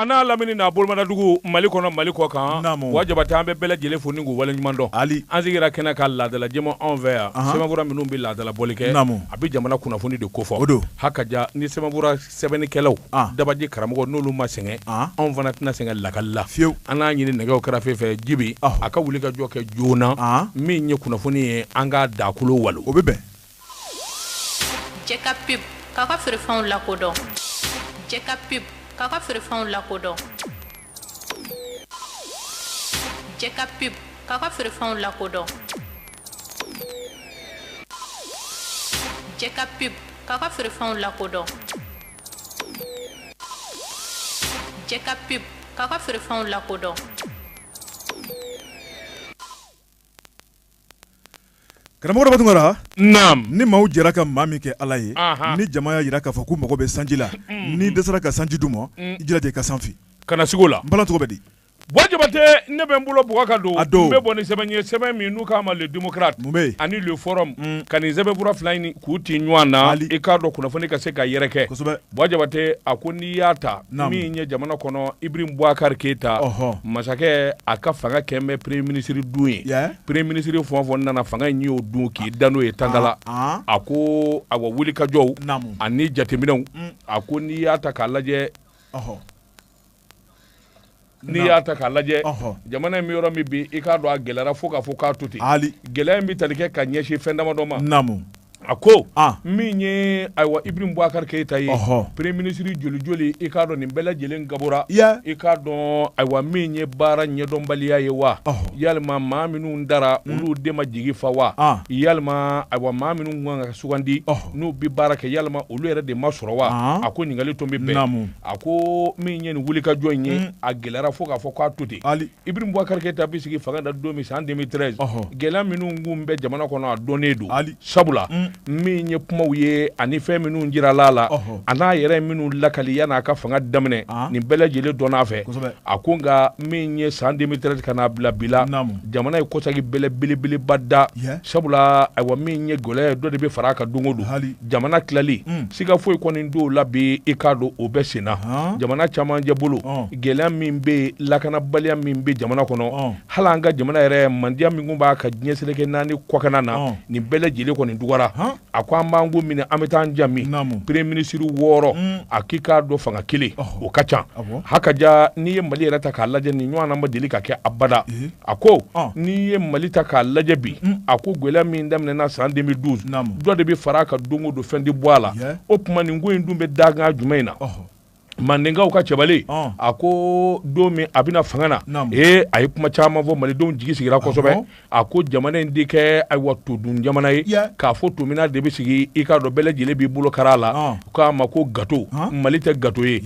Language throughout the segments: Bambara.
An n'a lamini n'a bolodugu mali kɔnɔ mali kɔ kan Buwa Jabatɛ an bɛ bɛɛ lajɛlen fo waleɲuman dɔn hali an sigira kɛnɛ kan laadala jɛmu anw fɛ yan sɛbɛnfura minnu bɛ laadala bɔli kɛ a bɛ jamana kunnafoni de kofɔ o don ha ka ni sɛbɛn sɛbɛnnikɛlaw ah. dabaji karamɔgɔ n'olu ma sɛgɛn ah. anw fana tɛna sɛgɛn lakali la fiyewu an n'a ɲini nɛgɛw kɛrɛfɛ fɛ jibi ah. a ka wuli ka jɔ kɛ joona min ye kunnafoni ye an ka dakolo walon o bɛ bɛn jɛ ka pub k'a ka feerefɛnw lakodɔn jɛ ka pub k'a ka feerefɛnw lakodɔn Jɛ ka pub k'a ka feerefɛnw lakodɔn jɛ ka pub k'a ka feerefɛnw lakodɔn jɛ ka pub k'a ka feerefɛnw lakodɔn Karamɔgɔ Daba Tunkara ni maaw jɛra ka maa min kɛ ala ye ni jama y'a jira k'a fɔ k'u mago bɛ sanji la n'i dɛsɛra ka sanji d'u ma i jilaja i ka san fin kana sig'o la n bala cogo bɛ di Buwa Jabatɛ ne bɛ n bolo bɔ ka don a don bɛ bɔ ni sɛbɛn ye sɛbɛn min n'u k'a ma Le Démocrate ani Le Forum ka nin sɛbɛnfura fila in k'u tɛ ɲɔgɔn na i k'a dɔn kunnafoni ka se ka yɛrɛkɛ Buwa Jabatɛ a ko n'i y'a ta min ye jamana kɔnɔ Ibrahim Boubacar Keita masakɛ a ka fanga kɛlen bɛ premier ministre dun ye premier ministre fɛn o fɛn nana fanga in y'o dun k'i da n'o ye tangala a ko awa wulikajɔw ani jateminɛw a ko n'i y'a ta k'a lajɛ n'i y'a ta k'a lajɛ jamana in bɛ yɔrɔ min bi i k'a dɔn a gɛlɛyara fo k'a fɔ k'a to ten gɛlɛya in bɛ tali kɛ ka ɲɛsin fɛn damadɔ ma naamu a ko min ye ayiwa Ibrahim Boubacar Keita ye premier ministre joli joli i k'a dɔn nin bɛɛ lajɛlen gabɔra i k'a dɔn ayiwa min ye baara ɲɛdɔnbaliya ye wa yalima maa minnu tara olu de ma jigi fa wa yalima ayiwa maa minnu kan ka sugandi n'u bɛ baara kɛ yalima olu yɛrɛ de ma sɔrɔ wa a ko ɲininkali tun bɛ bɛn a ko min ye nin wulikajɔ in ye mm. a gɛlɛyara fo k'a fɔ k'a to ten Ibrahim Boubacar Keita bɛ sigi fanga na don min san 2013 gɛlɛya minnu tun bɛ jamana kɔnɔ a dɔnnen don sabula mm. min ye kumaw ye ani fɛn minnu jirala a la a n'a yɛrɛ minnu lakali yanni a ka fanga daminɛ ah. nin bɛɛ lajɛlen dɔnna a fɛ a ko nka min ye san 2013 ka n'a bila bi la jamana ye kɔsegi bɛlɛ belebeleba da sabula ayiwa min ye gɛlɛya ye dɔ de bɛ fara a kan don o don jamana tilali mm. siga foyi kɔni t'o la bi i k'a dɔn o bɛ senna uh. jamana camancɛ bolo uh. gɛlɛya min bɛ lakanabaliya min bɛ jamana kɔnɔ uh. hali an ka jamana yɛrɛ mandiya min tun b'a kan diɲɛ seleke naani kɔkana na uh. nin bɛɛ lajɛlen kɔni dɔgɔyara uh. a ko an b'an ko minɛ an bɛ taa an jami premier ministre wɔɔrɔ mm. a k'i k'a dɔn fanga kelen uh. o ka ca uh. hakaja n'i ye mali yɛrɛ ta k'a lajɛ nin ɲɔgɔn ma deli ka kɛ abada uh. a ko n'i ye mali ta k'a lajɛ bi a ko gɛlɛya min daminɛna san 2012 dɔ de bɛ fara a kan don o don fɛn tɛ bɔ a la o tuma nin ko in dun bɛ dankan jumɛn in na mandenkaw ka cɛbalen a ko don min a bɛna fanga na ee a ye kuma caman fɔ malidenw jigi sigira kosɛbɛ a ko jamana in tɛ kɛ ayiwa todun jamana ye k'a fɔ tominan de bɛ sigi i k'a dɔn bɛɛ lajɛlen b'i bolo kari a la k'a ma ko gato mali tɛ gato ye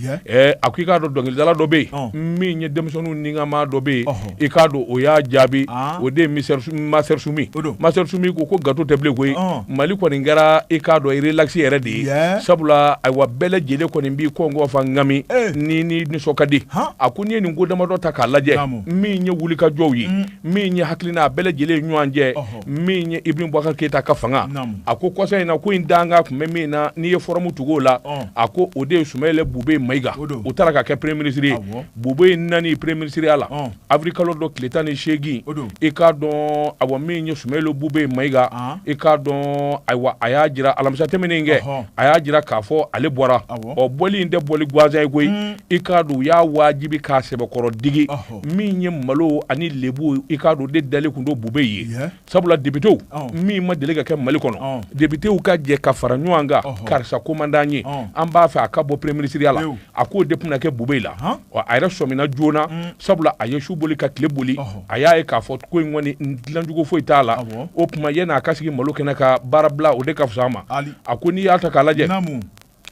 a ko i k'a dɔn dɔnkilidala dɔ bɛ yen min ye denmisɛnninw nikanmaa dɔ bɛ yen i k'a dɔn o y'a jaabi o de ye master sumi master sumi ko ko gato tɛ bilen koyi mali kɔni kɛra i k'a dɔn relax yɛrɛ de ye sabula ayiwa bɛɛ lajɛlen kɔni b'i kɔngɔ fa nkami ni ni nisɔn ka di a ko n'i ye nin ko damadɔ ta k'a lajɛ min ye wulikajɔw ye min ye hakilina a bɛɛ lajɛlen ɲɔgɔn cɛ min ye ibrahim bubakar keyita ka fanga a ko kɔsa in na ko in danga tun bɛ min na n'i ye fɔrɔmu tugu o la a ko o de ye sumayɛlɛ bube mayiga o taara ka kɛ premier ministre ye bubeyi nani premier ministre ya la avril kalo dɔ tile tan ni seegin i k'a dɔn awa min ye sumayɛlɛ bube mayiga i k'a dɔn ayiwa a y'a jira alamisa tɛmɛnen kɛ a y'a jira k'a fɔ ale bɔra ɔ bɔli in tɛ bɔli gansan ye koyi i k'a dɔn u y'a wajibi k'a sɛbɛkɔrɔ digi min ye malo ani lebu i k'a dɔn o de dalen tun don bube ye sabula depitew min ma deli ka kɛ mali kɔnɔ depitew ka jɛ ka fara ɲɔgɔn kan karisa ko man d'an ye an b'a fɛ a ka bɔ premier ministre ya la a k'o de tun na kɛ bube la a yɛrɛ sɔmina joona mm. sabula a ye su boli ka tile boli a y'a ye k'a fɔ ko in kɔni dilancogo foyi t'a la o tuma yann'a ka sigi malo kɔnɔ ka baara bila o de ka fisa a ma a ko n'i y'a ta k'a lajɛ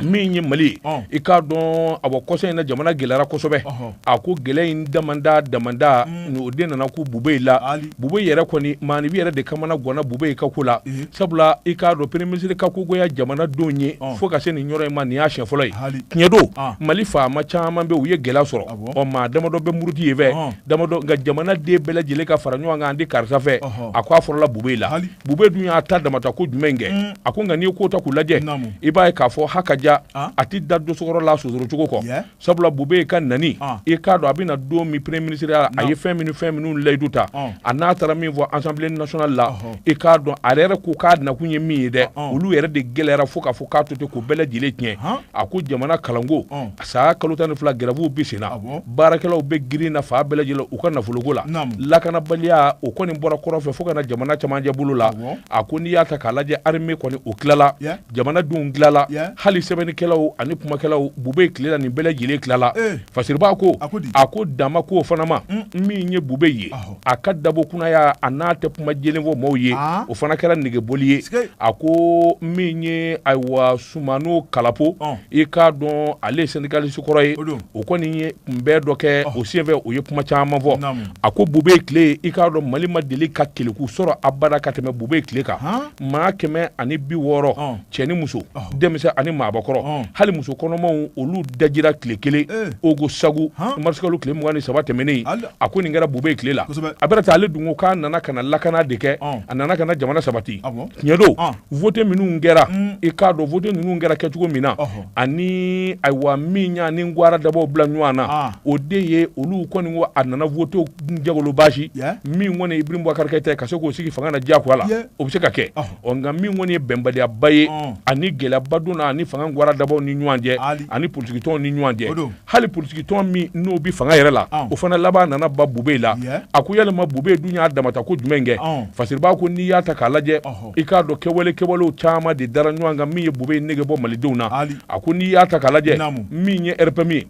min ye mali i k'a dɔn a bɔ kɔsa in na jamana gɛlɛyara kosɛbɛ a ko gɛlɛya in damanda damanda mm. o de nana ko bube la bube yɛrɛ kɔni maaninfin yɛrɛ de kamanaganna bubeyi ka ko la mm. sabula i k'a dɔn premier ministre ka ko goya jamanadenw ye fo ka se nin yɔrɔ in ma nin y'a siɲɛ fɔlɔ ye tiɲɛ don mali faama caman bɛ u ye gɛlɛya sɔrɔ ɔ maa damadɔ bɛ muruti ye fɛ damadɔ nka jamanaden bɛɛ lajɛlen ka fara ɲɔgɔn kan an tɛ karisa fɛ a ko a fɔlɔla bube la bube dun y'a ta damata ko jumɛn in kɛ mm. a ko nka n'i ye ko ta k'u lajɛ i b'a ye k'a fɔ ha ka ja ah. a tɛ da dosokɔrɔ la sonsoro cogo kɔ yeah. sabula bube ka nani ah. i k'a dɔn a bɛna don min premier ministre ya la a ye fɛn minnu fɛn minnu layidu ta ah. a n'a taara min fɔ assemblée nationale la uh-huh. i k'a dɔn a yɛrɛ ko k'a nakun ye min ye dɛ ah, ah. olu yɛrɛ de gɛlɛyara fo k'a fɔ k'a to ten k'o bɛɛ lajɛlen tiɲɛ a ko jamana kalanko saa kalo tan ni fila gɛrɛvuw bɛ sen na baarakɛlaw bɛ girin na fan bɛɛ lajɛlen u ka nafoloko la lakanabaliya o kɔni bɔra kɔrɔn fɛ fo ka na jamana camancɛ bolo la a ko n'i y'a ta k'a lajɛ arme kɔni o tilala jamana denw tilala hali sɛbɛnnikɛlaw ani kumakɛlaw bube tile la nin bɛɛ lajɛlen tilala fasiribaa ko a ko dama ko fana ma min ye bube ye a ka dabo kunaya a n'a tɛ kuma jɛlen fɔ maaw ye ah. o fana kɛra negebɔli ye a ko min ye ayiwa sumana kalapo i k'a dɔn ale ye sendikalisi kɔrɔ ye o kɔni ye kunbɛn dɔ kɛ o senfɛ o ye kuma caman fɔ a ko bube tile i k'a dɔn mali ma deli ka keleku sɔrɔ abada ka tɛmɛ bube tile kan maa kɛmɛ ani bi wɔɔrɔ cɛ ni muso denmisɛn ani maabakɔrɔ hali muso kɔnɔmaw olu dajira tile kelen eh. ogosagu marisikalo tile mugan ni saba tɛmɛnen a ko nin kɛra bube tile la a bɛna taa ale dun ko k'a nana ka na lakana de kɛ a nana ka na jamana sabati tiɲɛ don vote minnu kɛra mm. i k'a dɔn vote ninnu kɛra kɛcogo min na ani ayiwa min y'a ni gwara dabaw bila ɲɔgɔn na o de ye olu kɔni ko a nana vote jagolo baasi min kɔni ibrim bubakari keyita ka se k'o sigi fanga na diyagoya la o bɛ se ka kɛ ɔ nka min kɔni ye bɛnbaliyaba ye ani gɛlɛyaba donna ani fanga gwara dabaw ni ɲɔgɔn cɛ ani politikitɔnw ni ɲɔgɔn cɛ hali politikitɔn min n'o bɛ fanga yɛrɛ la o fana laban nana ban bube la a ko yalima bube dun y'a damata ko jumɛn kɛ fasiribaa ko n'i y'a ta k'a lajɛ i k'a dɔn kɛwale kɛwalew caman de dara ɲɔgɔn kan min ye bube nege bɔ malidenw na a ko n'i y'a ta k'a lajɛ min ye rpm ye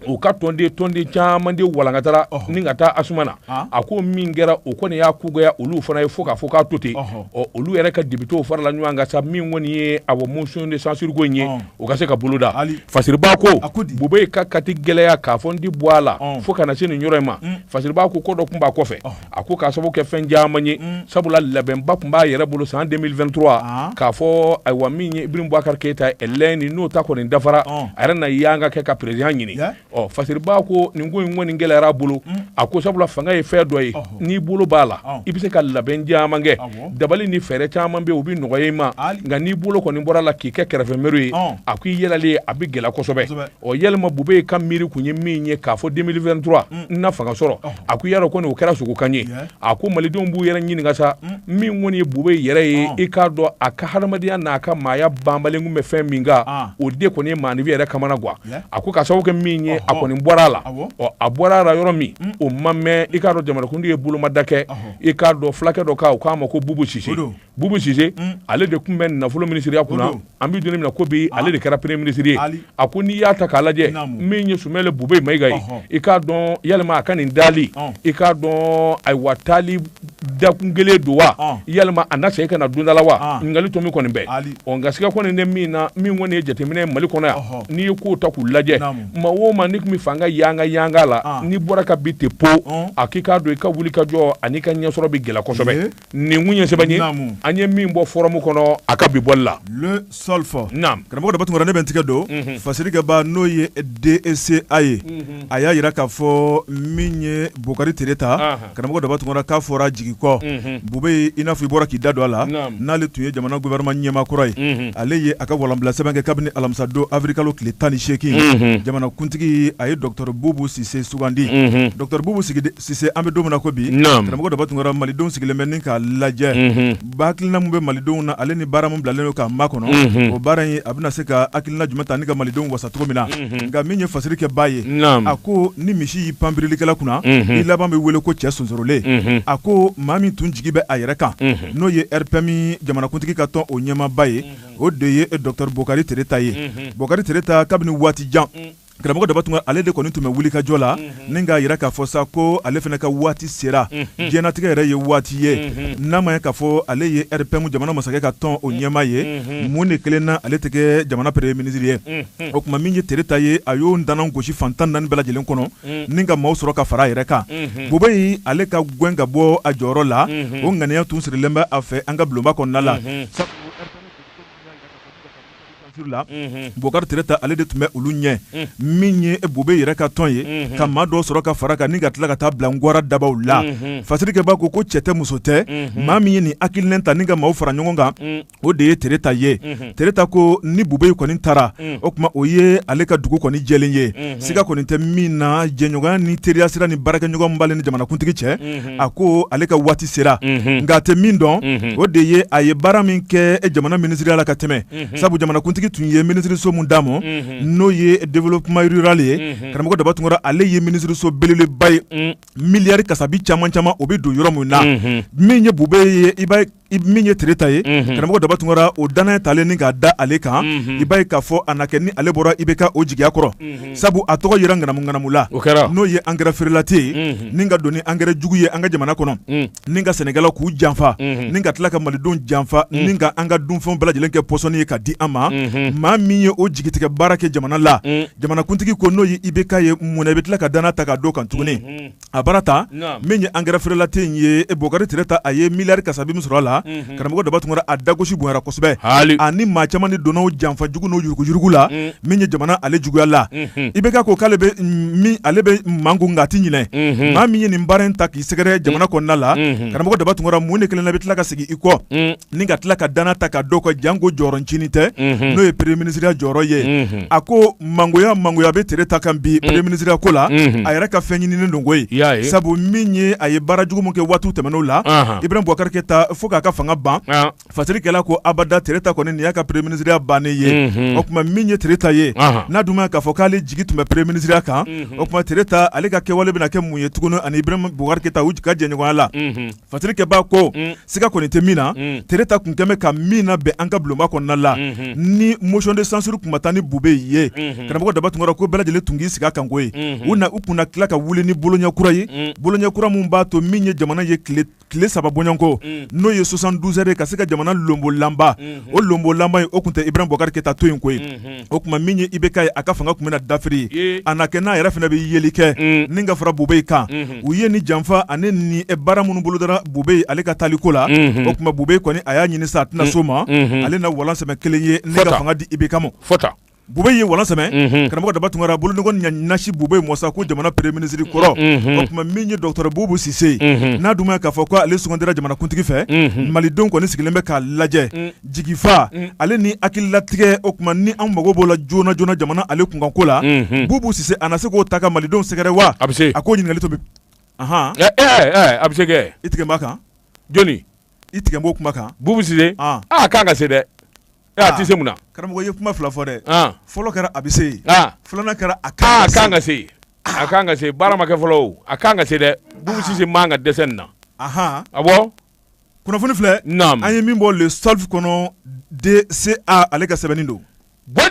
u ka tɔnden caman de walankatara ni ka taa asma na a ko min kɛra o kɔni y'a ko goya olu fana ye fo k'a fɔ k'a to ten ɔ olu yɛrɛ ka depitew farala ɲɔgɔn kan sa min kɔni ye a motion de censure ko in ye o ka se ka boloda fasiriba ko bube ka kati gɛlɛya k'a fɔ n tɛ bɔ a la fo ka na se nin yɔrɔ in ma mm. fasiriba ko ko dɔ tun b'a kɔfɛ a ko k'a sababu kɛ fɛn caman ye mm. sabula labɛnba tun b'a yɛrɛ bolo san 2023 k'a fɔ ayiwa min ye ibrim bubakari keyita ye lɛni n'o ta kɔni dafara a yɛrɛ na y'an ka kɛ ka perezidan ɲini ɔ fasiribaa ko nin ko in kɔni gɛlɛyara a bolo mm. a ko sabula fanga ye fɛn dɔ ye n'i bolo b'a la i bɛ se ka labɛn caman kɛ dabali ni fɛɛrɛ caman bɛ yen o bɛ nɔgɔya i ma nka n'i bolo kɔni bɔr'a la k'i kɛ kɛrɛfɛmeri ye a ko i yɛlɛlen ye a bɛ gɛlɛya kosɛbɛ ɔ yalima bube ka miiri tun ye min ye k'a fɔ 2023 mm. n na fanga sɔrɔ a ko yɛrɛ kɔni o kɛra sogokan ye a ko malidenw b'u yɛrɛ ɲininka sa mm. min kɔni ye bube yɛrɛ ye i k'a dɔn a ka hadamadenya n'a ka maaya banbalen tun bɛ fɛn min kan o de kɔni ye maanifi yɛrɛ kamanagwan a ko k'a sababu kɛ min ye a kɔni bɔra a la ɔ a bɔra a la yɔrɔ min mm. o ma mɛn i k'a dɔn jamanakuntigi ye bolomada kɛ i k'a dɔn fulakɛ dɔ kan u k'a ma ko bubu sise bubu sise mm. ale de tun bɛ nafolo minisiriya kunna an bɛ don min na ko bi ah. ale de kɛra premier minisiri ye a ko n'i y'a ta k'a lajɛ min ye sumeyilu bube mayiga ye i k'a dɔn yalima a ka nin dali i k'a dɔn ayiwa taali dakun kelen don wa ah. yalima a na segin ka na donda la wa ah. ɲininkali to min kɔni bɛ o nka siga kɔni tɛ min na min kɔni ye jateminɛ ye mali kɔnɔ yan n'i ye kow ta k'u lajɛ maa o maa n'i tun bɛ fanga yanga yanga la ah. n'i bɔra ka bin ten po a k'i k'a dɔn i ka wuli ka jɔ an'i ka ɲɛsɔrɔ bɛ gɛlɛya kosɛbɛ nin kun ye sɛbɛn ye an ye min bɔ fɔrɔmu kɔnɔ a ka bi bɔli la soft karamɔgɔ daba tunkara ne bɛ n tigɛ don fasirikɛba n'o ye dca ye a y'a jira k'a fɔ min ye bokari tereta karamɔgɔ daba tunkara k'a fɔra jigi kɔ bubɛyi i n'a fɔ i bɔra k'i da don a la n'ale tun ye jamana gouvernement ɲɛmaa kɔrɔ ye ale ye a ka walanbila sɛbɛn kɛ kabini alamisadon awirilikalo tile tan ni seegin jamanakuntigi a ye docteur bubu sise sugandi docteur bubu sise an bɛ don min na ko bi karamɔgɔ daba tunkara malidenw sigilen bɛ ni k'a lajɛ ba hakilina mun bɛ malidenw na ale ni baara mun bilalen don k'a makɔnɔ o baara in a bɛna se ka hakilina jumɛn ta ni ka malidenw wasa cogo min na nka min ye fasirikɛba ye a ko ni misi y'i pan birilikɛla kunna i laban bɛ wele ko cɛ sonsorolen a ko maa min tun jigi bɛ a yɛrɛ kan n'o ye rpm jamanakuntigi ka tɔn o ɲɛmaaba ye o de ye e docteur bokari tereta ye bokari tereta kabini waati jan karamɔgɔ daba tunkara ale de kɔni tun bɛ wuli ka jɔ la mhm. ni k'a jira k'a fɔ sa ko ale fana ka waati sera mhm. diɲɛnatigɛ yɛrɛ ye waati ye mhm. n'a ma ye k'a fɔ ale ye rpm jamana masakɛ ka tɔn o ɲɛmaa ye mun de kelen na ale tɛ kɛ jamana premier ministre ye o tuma min ye tereta ye a y'o ntanan gosi fan tan ni naani bɛɛ lajɛlen kɔnɔ ni ka maaw sɔrɔ ka fara a yɛrɛ kan bubɛyi ale ka gɛn ka bɔ a jɔyɔrɔ la o ŋaniya tun sirilen bɛ a fɛ an ka bulonba kɔnɔna la la bokari tereta ale de tun bɛ olu ɲɛ min ye bubɛyi yɛrɛ ka tɔn ye ka maa dɔ sɔrɔ ka fara kan ni ka tila ka taa bila wara dabaw la fasirikɛba ko ko cɛ tɛ muso tɛ maa min ye nin hakilina ta ni ka maaw fara ɲɔgɔn kan o de ye tereta ye tereta ko ni bubɛyi kɔni taara o tuma o ye ale ka dugu kɔni jɛlen ye siga kɔni tɛ min na jɛɲɔgɔnya ni teriyasira ni baarakɛɲɔgɔn b'ale ni jamanakuntigi cɛ a ko ale ka waati sera nka a tɛ min dɔn o de ye a ye baara min kɛ jamana minisiriya la ka tɛmɛ sabu jamanakuntigi tun ye minisiriso min d'a ma n'o ye développement rural ye karamɔgɔ daba tunkara ale ye minisiriso belebeleba ye miliyari kasabi caman caman o bɛ don yɔrɔ min na min ye bubɛyi ye i I min ye tereta ye karamɔgɔ daba tunkara o dannaya talen ni k'a da ale kan i b'a ye k'a fɔ a na kɛ ni ale bɔra ibk o jigiya kɔrɔ sabu a tɔgɔ yera ŋanamuŋanamu la n'o ye engrais frelaté ye ni ka don ni engrais jugu ye an ka jamana kɔnɔ ni ka sɛnɛkɛlaw k'u janfa ni ka tila ka malidenw janfa ni ka an ka dunfɛn bɛɛ lajɛlen kɛ pɔsɔni ye ka di an ma maa min ye o jigitigɛ baara kɛ jamana la jamanakuntigi ko n'o ye ibk ye mun na i bɛ tila ka dannaya ta k'a d'o kan tuguni a baara ta min ye angɛrɛ frelaté in ye Bokari Tereta a ye miliyari kasabi min sɔrɔ a la karamɔgɔ daba tunkara a dagosi bonyana kosɛbɛ a ni maa caman de donna o janfa jugu n'o yuruguyurugu la min ye jamana ale juguya la IBK ko k'ale bɛ min ale bɛ makun nka a tɛ ɲinɛ maa min ye nin baara in ta k'i sɛgɛrɛ jamana kɔnɔna la karamɔgɔ daba tunkara mun de kɛlen do i bɛ tila ka segin i kɔ. ni ka tila ka danaya ta k'a don a kan janko jɔyɔrɔncinin tɛ n'o ye premier minisiriya jɔyɔrɔ ye a ko mangoya mangoya bɛ Tereta kan bi premier minisiriya ko la a yɛrɛ ka fɛn ɲininen don koyi sabu min ye a ye baara jugu min kɛ waati tɛmɛnenw la Ibrahim Boubacar Keita fo k'a ka fanga ban fasirikɛla ko abada Tereta kɔni nin y'a ka premier minisiriya bannen ye o tuma min ye Tereta ye n'a dun ma k'a fɔ k'ale jigi tun bɛ premier minisiriya kan o tuma Tereta ale ka kɛwale bɛna kɛ mun ye tuguni ani Ibrahim Boubacar Keita u ka jɛɲɔgɔnya la fasirikɛba ko mm. siga kɔni tɛ min na mm. Tereta tun kɛlen bɛ ka min nabɛn an ka bulonba kɔnɔna la mm-hmm. ni motion de censure tun ma taa ni bube ye mm-hmm. karamɔgɔ daba tunkara ko bɛɛ lajɛlen tun k'i sigi a kan koyi mm-hmm. u na u kunna tila ka wuli ni boloɲɛ kura ye mm. boloɲɛ kura min b'a to min ye jamana ye tile saba bɔɲɔgɔnko n'o ye 72 heures ye ka se ka jamana lonbolanba o lonbolanba ye o tun tɛ Ibrahim Boubacar Keita to yen koyi o tuma min ye IBK ye a ka fanga tun bɛna dafiri a na kɛ n'a yɛrɛ fana bɛ yeli kɛ ni ka fara bube kan u ye ni janfa ani ni baara minnu bolodara bube ale ka taali ko la o tuma bube kɔni a y'a ɲini sa a tɛna sɔn a ma ale na walan sɛmɛ kelen ye ne ka fanga di IBK ma bube ye walan sɛmɛ karamɔgɔ daba tunkara boloɲɛ ɲɛsin bube ma sa ko jamana premier minisiri kɔrɔ o tuma min ye dɔgɔtɔrɔ bubu sise n'a dun ma k'a fɔ ko ale sugandira jamanakuntigi fɛ malidenw kɔni sigilen bɛ k'a lajɛ jigifa mm. ale ni hakililatigɛ o tuma ni an mago b'o la joona joona jamana ale kunkanko la mm-hmm. bubu sise a na se k'o ta ka malidenw sɛgɛrɛ wa a bɛ se a k'o ɲininkali to bi ahan eh, eh, eh, a bɛ se kɛ i tigɛlen b'a kan jɔni i tigɛlen b'o kuma kan bubu sise a ah. ah, kan ka se dɛ a ah. tɛ se mun na karamɔgɔ ye kuma fila fɔ dɛ fɔlɔ kɛra a bɛ se yen filanan kɛra a kan ka se a kan ka se baara ma kɛ fɔlɔ o a kan ka se dɛ bubu sise man ka dɛsɛ nin na awɔ kunnafoni filɛ an ye min bɔ Le Soft kɔnɔ DCA ale ka sɛbɛnni don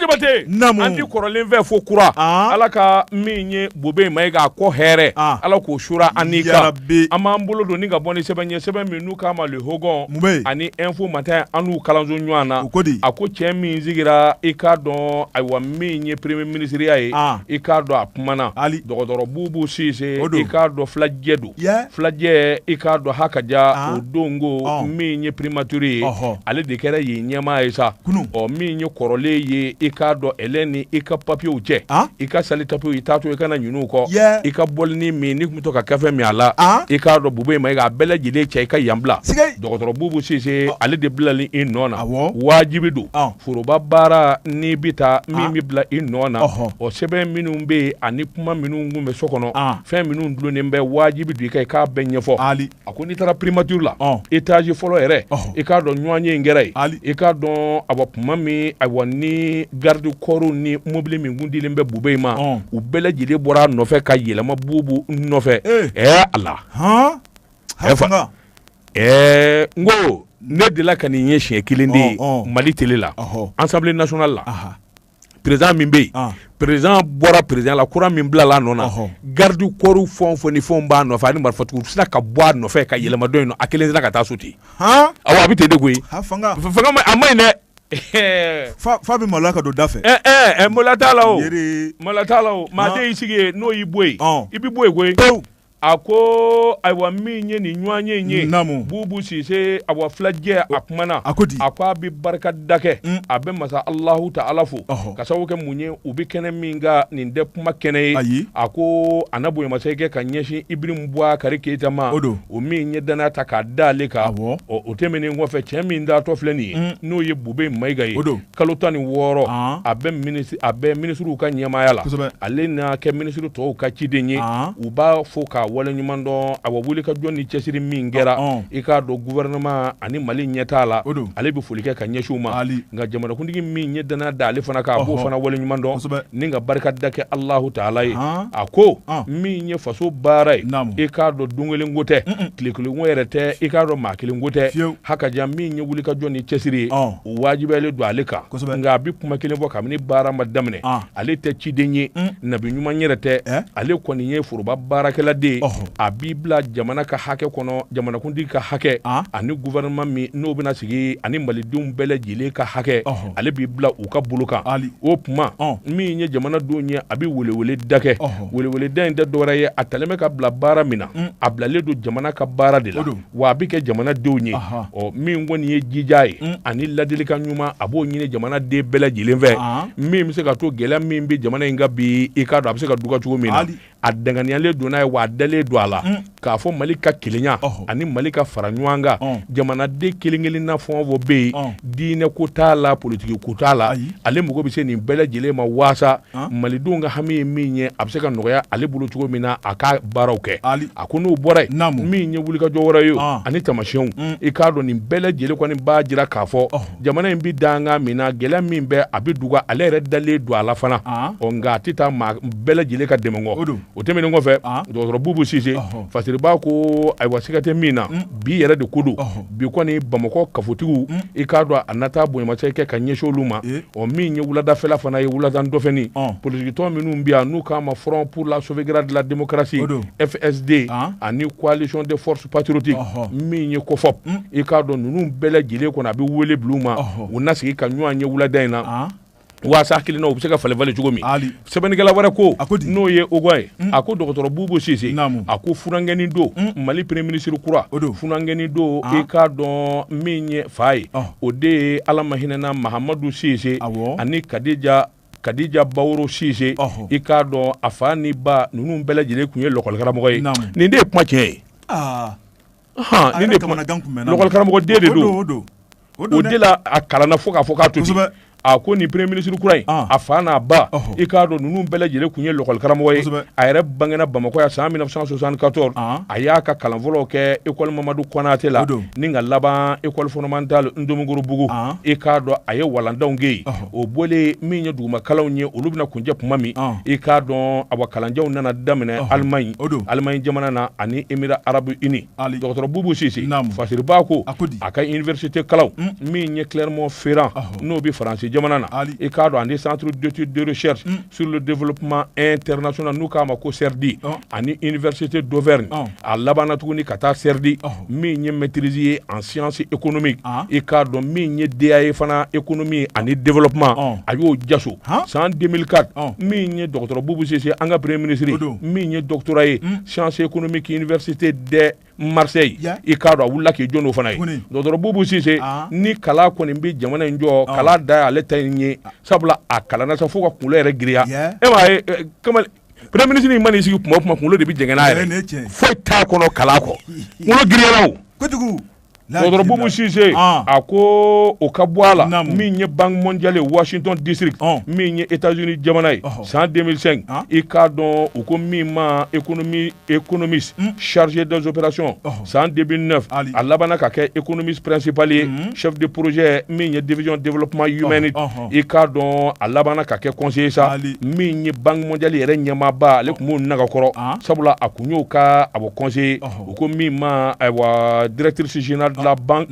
jabate an ti kɔrɔlen fɛ fo kura ala ka min ye bube mayiga kɔ hɛrɛ ala k'o suuru an kan an b'an bolo don ni ka bɔ ni sɛbɛn ye sɛbɛn min n'u k'a ma Le Hogon ani Info Matin an n'u kalanso ɲɔgɔn na ko di a ko cɛ min sigira i k'a dɔn ayiwa min ye premier minisiriya ye i k'a dɔn a kumana dɔgɔtɔrɔ bubu sise o don i k'a dɔn filajɛ don filajɛ i k'a dɔn ha ka ja ah. o don ko min ye primature ye ale de kɛra yen ɲɛmaa ye sa ɔ min ye kɔrɔlen ye i k'a dɔn e ni i ka papiyew cɛ ah. i ka sali tapiw i t'a to i kana ɲinɛ u kɔ i ka bɔlinin min i tun bɛ to ka kafe min a la ah. i k'a dɔn bube mayiga a bɛɛ lajɛlen cɛ i ka yan bila dɔgɔtɔrɔ bubu sise ale de bilalen i nɔ na wajibi don foroba baara n'i bɛ taa min bɛ bila i nɔ na o sɛbɛn minnu bɛ yen ani kuma minnu tun bɛ so kɔnɔ fɛn minnu dulonnen bɛ wajibi don i ka i k'a bɛɛ ɲɛfɔ ali a ko n'i taara primature la ɔn étage fɔlɔ yɛrɛ ɔhɔ i k'a dɔn ɲɔgɔnye in kɛra yen ali i k'a dɔn awa kuma min awa ni garde corps ni mobili min kun dilen bɛ bubɛyi ma ɔn u bɛɛ lajɛlen bɔra a nɔfɛ ka yɛlɛma bubu nɔfɛ ee ɛɛ ala han Ɛ fa- hakanga ɛɛ n ko ne delila ka nin ye siɲɛ kelen de ye Ɔn, ɔn. mali tele la ɔhɔ assemblée nationale la aha président min bɛ yen président bɔra président la kura min bilala a nɔ na garde corps fɛn o fɛn ni fɛn b'a nɔfɛ ani marifatigiw sinna ka bɔ a nɔfɛ ka yɛlɛma dɔ in nɔ a kelen sinna ka taa so ten awɔ a bɛ ten de koyi a man ɲi dɛ fa bɛ maloya ka don da fɛ ɛɛ maloya t'a la o maloya t'a la o maa de y'i sigi n'o y'i bɔ yen i bɛ bɔ yen koyi a ko ayiwa min ye nin ɲɔgɔnye in ye bubu sise awa filajɛ a kumana a ko a ko a bɛ barika da kɛ mm. a bɛ masa alahu taala fo ka sababu kɛ mun ye u bɛ kɛnɛ min kan nin tɛ kuma kɛnɛ ye a ko a na bonyamasegin kɛ ka ɲɛsin ibrahim bubakari keyita ma o min ye danaya ta k'a da ale kan o tɛmɛnen kɔfɛ cɛ min taatɔ filɛ nin ye mm. n'o ye bubɛyi mayiga ye kalo tan ni wɔɔrɔ a bɛ minisiri a bɛ minisiriw ka ɲɛmaaya la ale na kɛ minisiri tɔw ka ciden ye u b'a fo k'a waleɲuman dɔn awa wulikajɔ ni cɛsiri min kɛra i k'a dɔn gouvernement ani mali ɲɛtaa la ale bɛ foli kɛ ka ɲɛsin u ma nka jamanakuntigi min ye danaya da ale fana kan a b'o fana waleɲuman dɔn ni ka barika da kɛ alahu taala ye a ko min ye faso baara ye i k'a dɔn don kelen ko tɛ tile kelen ko yɛrɛ tɛ i k'a dɔn maa kelen ko tɛ hakaja min ye wulikajɔ ni cɛsiri ye o wajibiyalen don ale kan kosɛbɛ nka a bɛ kuma kelen fɔ kabini baara ma daminɛ ah. ale tɛ ciden ye mm. nabi ɲuman yɛrɛ tɛ eh? ale kɔni ye foroba baarakɛla de ye a b'i bila jamana ka hakɛ kɔnɔ jamanakuntigi ka hakɛ ah. ani gouvernement min n'o bɛna sigi ani malidenw bɛɛ lajɛlen ka hakɛ ale b'i bila u ka bolo kan o tuma oh. min ye jamanadenw ye a bɛ weleweleda kɛ weleweleda in tɛ dɔwɛrɛ ye a talen bɛ ka bila baara min na mm. a bilalen don jamana ka baara de la wa a bɛ kɛ jamanadenw ye ɔ min kɔni ye jija ye mm. ani ladilikan ɲuman a b'o ɲini jamanaden bɛɛ lajɛlen fɛ min bɛ se ka to gɛlɛya min bɛ jamana in kan bi i k'a dɔn a bɛ se ka duga cogo min na a danganiyalen don n'a ye wa a dalen don a la mm. k'a fɔ mali ka kelenya ani mali ka fara ɲɔgɔn kan jamanaden kelen kelen na fɛn o fɛn bɛ yen diinɛ ko t'a la politiki ko t'a la ale mago bɛ se nin bɛɛ lajɛlen ma waasa ah. malidenw ka hami ye min ye a bɛ se ka nɔgɔya ale bolo cogo min na a ka baaraw kɛ a ko n'o bɔra yen min ye wulikajɔ wɛrɛ ye ah. ani taamasiyɛnw mm. i k'a dɔn nin bɛɛ lajɛlen kɔni b'a jira k'a fɔ oh. jamana in bɛ danga min na gɛlɛya min bɛ a bɛ duga ale yɛrɛ dalen don a la fana ah. ɔ nka a tɛ taa maa bɛɛ lajɛlen ka dɛmɛ kɔ o tɛmɛnen kɔfɛ dɔgɔtɔrɔ bubu sise fasiribaa ko ayiwa siga tɛ min na mm. bi yɛrɛ de ko don bi kɔni bamakɔ kafotigiw hmm. i k'a dɔn a nata bonyamasegin kɛ ka ɲɛsin olu ma eh. o min ye wuladafɛla fana ye wuladan dɔfɛni politikitɔn minnu bɛ yan n'u k'a ma front pour la sauvegarde de la démocratie fsd ah. ani coalition des forces patriotiques min ye cofop hmm. i k'a dɔn ninnu bɛɛ lajɛlen kɔnɔ a bɛ wele bil'u ma u na sigi ka ɲɔgɔn ye wulada in na ah. waasa hakilina u bɛ se ka falen falen cogo min sɛbɛnnikɛla wɛrɛ ko n'o ye oga ye mm. a ko dɔgɔtɔrɔ bubu sise a ko funankɛni don mm. mali premier ministre kura funankɛni don ah. i k'a dɔn min ye fa ye ah. o de ye ala ma hinɛna mahamadu sise ani kadija kadija baworo sise i k'a dɔn a fa ni ba ninnu bɛɛ lajɛlen tun ye lɔkɔlikaramɔgɔ ye nin de ye kuma tiɲɛ ye ah. a kalanna fo k'a fɔ k'a to ten a ko nin premier ministre kura in a fa n'a ba i k'a dɔn ninnu bɛɛ lajɛlen tun ye lakɔlikaramɔgɔ ye a yɛrɛ bangena bamakɔ yan san 1974 a y'a ka kalan fɔlɔ kɛ école mamadou konaté la ni ka laban école fondamentale ntomikɔrɔbugu i k'a dɔn a ye walandaw kɛ yen o bɔlen min ye dugumakalanw ye olu bɛna kuncɛ tuma min i k'a dɔn a kalanjanw nana daminɛ allemagne allemagne jamana na ani émirats arabes unis dɔgɔtɔrɔ bubu sise fasiribaa ko a ka université kalanw min ye clermont-ferrand n'o bɛ faransi jamana na i k'a dɔn ani centre d'études de recherche sur le développement international n'u k'a ma ko CERDI oh. ani université d'Auvergne oh. a labanna tuguni ka taa CERDI oh. min ye maîtrise ye en science économique ah. i k'a dɔn min ye DEA ye fana économie ani développement oh. a y'o jaso ah. san 2004 oh. min ye dɔgɔtɔrɔ Boubou Sise an ka premier ministre min ye doctorat ye mm. science économique université d'Aix Marseille yeah. i k'a dɔn a wulila k'i jɔ n'o fana ye dɔgɔtɔrɔ Boubou Cisse ah. ni kalan kɔni bɛ jamana in jɔ ah. kalan dan ale ta in ye ah. sabula a kalanna sa fo k'a kunkolo yɛrɛ giriya e m'a ye eh, kamalen premier ministre in man'i sigi kuma o kuma kunkolo de bɛ jɛngɛn n'a ye foyi t'a kɔnɔ kalan kɔ kunkolo giriyara o kojugu dɔgɔtɔrɔ Boubou Sise ah. a ko o ka bɔ a la min ye Banque mondiale ye Washington district oh. min ye États-Unis jamana ye oh. san 2005 ah. i k'a dɔn u ko min ma économie économiste hmm. chargé des opérations oh. san 2009 a labanna ka kɛ économiste principal ye hmm. chef de projet min ye division développement humanité i k'a dɔn a labanna ka kɛ conseiller sa min ye Banque mondiale yɛrɛ ɲɛmaaba ale tun b'o nagakɔrɔ ah. sabula a kun y'o ka a bɔ conseiller U ko min ma ayiwa dtiririsinina dilanban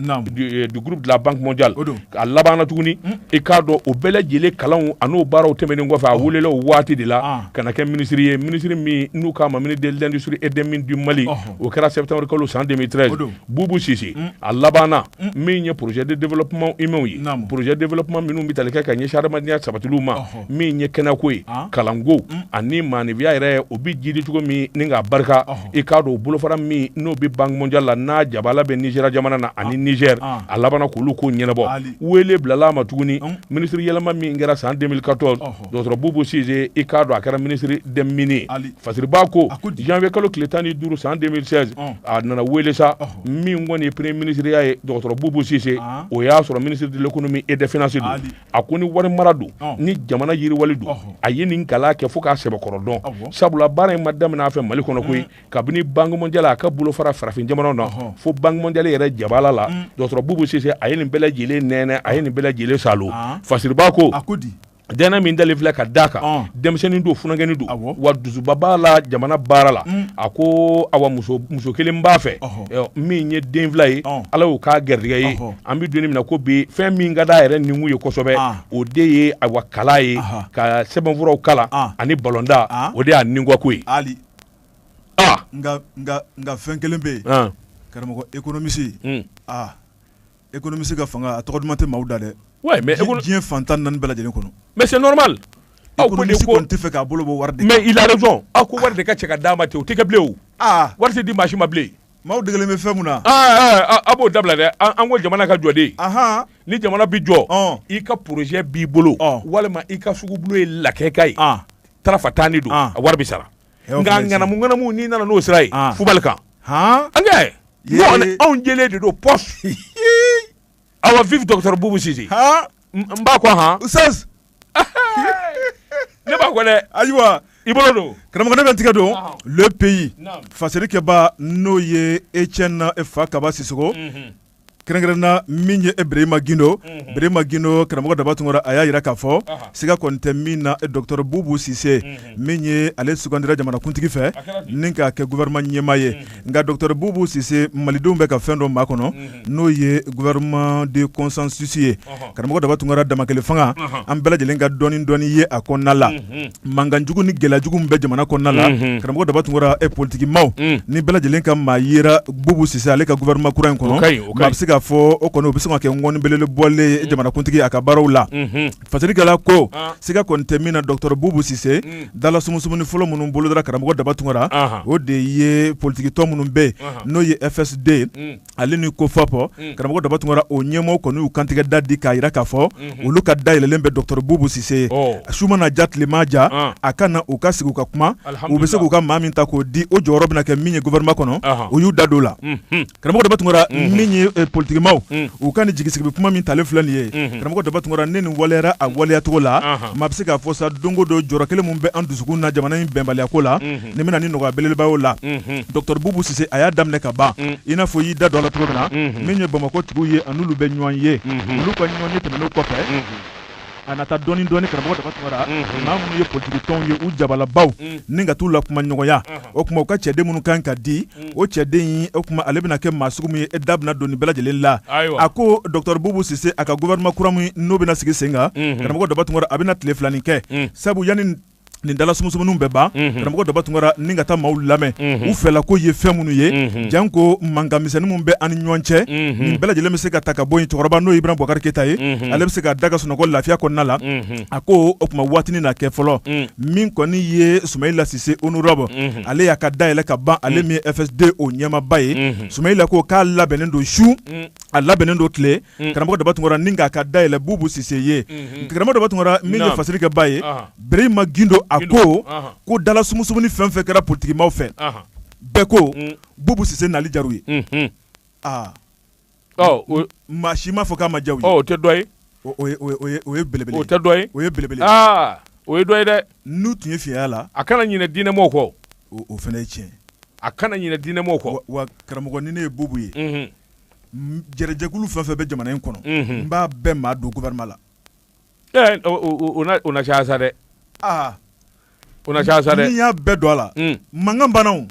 dugukuru dilanbank ja a labanana tuguni i k'a dɔn o bɛɛ lajɛlen kalan ani'o baaraw tɛmɛn kɔfɛ a weele o waati de la ka kɛ minisiriri ye minisiriri min n'u k'a ma mini delidsiri ed di mali o kɛra sɛ tanri kalo san denmisɛnninmi ye bubu sise a labanana min ye pzjɛɛden denla kuma inw ye pzjɛ denla kuma minnu bɛ talikɛ ka ɲɛ ha adamadenya sabatiw ma min ye kɛnɛko ye kalanko ani maanifiya yɛrɛ o bɛ jiri cogo min ni ka barika i k'a dɔn o bolofara min n'o bɛ Banque mondiale la n'a jabala bɛ Nigéria jamana na ani Niger a labanna k'olu ko ɲɛnabɔ wele bilala ma tuguni ministre yɛlɛma min kɛra san deux mille quatorze dɔgɔtɔrɔ bubu sise i k'a dɔn a kɛra ministre des mines fasiriba ko janvier kalo tile tan ni duuru san deux mille seize a nana wele sa min kɔni ye premier ministre ya ye dɔgɔtɔrɔ bubu sise o y'a sɔrɔ ministre de l'économie et des finances a ko ni wari mara don ni jamana yiriwali don a ye nin kalan kɛ fo k'a sɛbɛkɔrɔ dɔn sabula baara in ma daminɛ a fɛ mali kɔnɔ koyi mm. kabini Banque mondiale a ka bolofara farafin jamanaw na fo Banque mondiale yɛrɛ jabala la mm. dɔgɔtɔrɔ bubu sise a ye nin bɛɛ lajɛlen nɛnɛ a ye nin bɛɛ lajɛlen salo ah. fasiriba ko dɛnɛ min dalen filɛ ka d'a kan ah. denmisɛnnin don funankɛni don wa dusuba b'a la jamana baara la mm. a ko awa muso kelen b'a fɛ min ye den fila ye ala y'o k'a gɛrijɛgɛ ye an bɛ don nin min na ko bi fɛn min ka d'a yɛrɛ ninkun ye kosɛbɛ ah. o de ye awa kalan ye ka sɛbɛnfuraw kalan ah. ani balɔntan ah. o de y'a nikanko ye ali nka nka nka fɛn kelen bɛ yen karamɔgɔ économiste hmm. aa économiste ka fanga a tɔgɔ duman tɛ maaw da dɛ mais diɲɛ fan tan naani bɛɛ lajɛlen kɔnɔ mais c'est normal économiste kɔni tɛ fɛ k'a bolo bɔ wari de mais il a raison aw ko wari de ka cɛ ka d'a ma ten o tɛ kɛ bilen o wari tɛ di maa si ma bilen Maaw degelen bɛ fɛn min na a b'o dabila dɛ an ko jamana ka jɔ de ni jamana bɛ jɔ i ka projet b'i bolo walima i ka sugubolo ye lakika ye taarafa tan ni don a wari bɛ sara nka ŋanamu ŋanamu n'i nana n'o sira ye fubali kan an anw jɛlen de don p awa vive docteur bubu sise ha n b'a ko han ustaz ne b'a ko dɛ ayiwa i bolo don karamɔgɔ ne bɛ tigɛ don le pays fasirikɛbaa n'o ye etienne fakaba sisoko mhm. kɛrɛnkɛrɛnna min ye berema gindo mhm. berema gindo karamɔgɔ daba tunkara a y'a yira k'a fɔ siga kɔni tɛ min na docteur bubu sise mhm. min ye ale sugandira jamanakuntigi fɛ ni k'a kɛ gouvernement ɲɛmaa ye mhm. nka docteur bubu sise malidenw bɛ ka fɛn dɔ makɔnɔ n'o ye gouvernement de consensus ye karamɔgɔ daba tunkara damakɛle fanga an bɛɛ lajɛlen ka dɔɔni dɔɔni ye a kɔnɔna la mankanjugu ni gɛlɛyajugu bɛ jamana kɔnɔna la karamɔgɔ daba tunkara e politikimaaw ni bɛɛ lajɛlen ka maa yera bubu sise ale ka gouvernement kura in kɔnɔ maa bɛ se k'a fɔ o kɔni o bɛ se ka kɛ ŋɔni belebele bɔlen ye jamanakuntigi a ka baaraw la Fasirikɛla ko siga kɔni tɛ min na docteur Bubu Sise dala sumusumuni fɔlɔ minnu bolodara karamɔgɔ daba tunkara o de ye politikitɔn minnu bɛ yen n'o ye FSD ale ni COFOP karamɔgɔ daba tunkara o ɲɛmɔgɔw kɔni y'u kantigɛ da di k'a jira k'a fɔ olu ka da yɛlɛlen bɛ docteur Bubu Sise ye su mana diya tile mana diya a ka na u ka sigi u ka kuma u bɛ se k'u ka maa min ta k'o di o jɔyɔrɔ bɛna kɛ min ye gouvernement kɔnɔ u y'u da don o la. karamɔgɔ daba tunkara min ye eh, politigimaw mm. u ka ni jigisigi kuma min talen filɛ nin ye mm-hmm. karamɔgɔ daba tunkara ni nin waleyara a waleyacogo la uh-huh. maa bɛ se k'a fɔ sa don o don jɔrɔ kelen min bɛ an dusukun na jamana in bɛnbaliyako la mm-hmm. nin bɛna ni nɔgɔya belebeleba y'o la mm-hmm. dɔgɔtɔrɔ bubu sise a y'a daminɛ ka ban mm. i n'a fɔ i y'i da don a la cogo min na min ye bamakɔ tigiw ye a n'olu bɛ ɲɔgɔn ye olu ka ɲɔgɔn ye tɛmɛnen kɔfɛ a nata dɔɔni dɔɔni karamɔgɔ daba tunkara mhm. maa minnu ye politikitɔnw ye u jabalabaw mhm. ni ka t'u la kuma ɲɔgɔnya mhm. o tuma u ka cɛden minnu kan ka di o cɛden in o tuma ale bɛna kɛ maa sugu min ye e da bɛna don nin bɛɛ lajɛlen la a ko dɔktɔr bubu sise a ka gouvernement kura min n'o bɛna sigi sen kan karamɔgɔ daba tunkara a bɛna tile filanin kɛ sabu yanni nin dala sumusumuniw bɛ ban karamɔgɔ daba tunkara ni ka taa maaw lamɛn u fɛla ko ye fɛn minnu ye janko mankan misɛnnin min bɛ an ni ɲɔgɔn cɛ nin bɛɛ lajɛlen bɛ se ka ta ka bɔ yen cɛkɔrɔba n'o ye ibrahim bubakari keyita ye ale bɛ se ka da ka sunɔgɔ lafiya kɔnɔna la a ko o tuma waatinin na kɛ fɔlɔ min kɔni ye sumayila sise honorable ale y'a ka da yɛlɛ ka ban ale min ye fsd o ɲɛmaaba ye sumayila ko k'a labɛnnen don su a labɛnnen don tile Mm. karamɔgɔ daba tunkara ni k'a ka dayɛlɛ bubu sise ye mm-hmm. karamɔgɔ daba tunkara min ye fasiri kɛ ba ye berema gindo a ko ko dala sumusumuni fɛn fɛn kɛra politikimaw fɛ bɛɛ ko mm. bubu sise nali diyar'u ye mm-hmm. ah. oh, maa si m'a fɔ k'a ma diya u ye oh, o tɛ dɔ ye o ye belebele o tɛ dɔ ye o ye belebele ah, o ye dɔ ye dɛ n'u tun ye fiyaya la a kana ɲinɛ diinɛmɔgɔw kɔ o fana ye tiɲɛ a kana ɲinɛ diinɛmɔgɔw kɔ wa karamɔgɔ ni ne ye bubu ye mm-hmm. Jɛrɛjɛkulu fɛn fɛn bɛ jamana in kɔnɔ n b'a bɛɛ maa don gouvernement la o na caya sa dɛ aa o na caya sa n'i y'a bɛɛ don a la mankan banna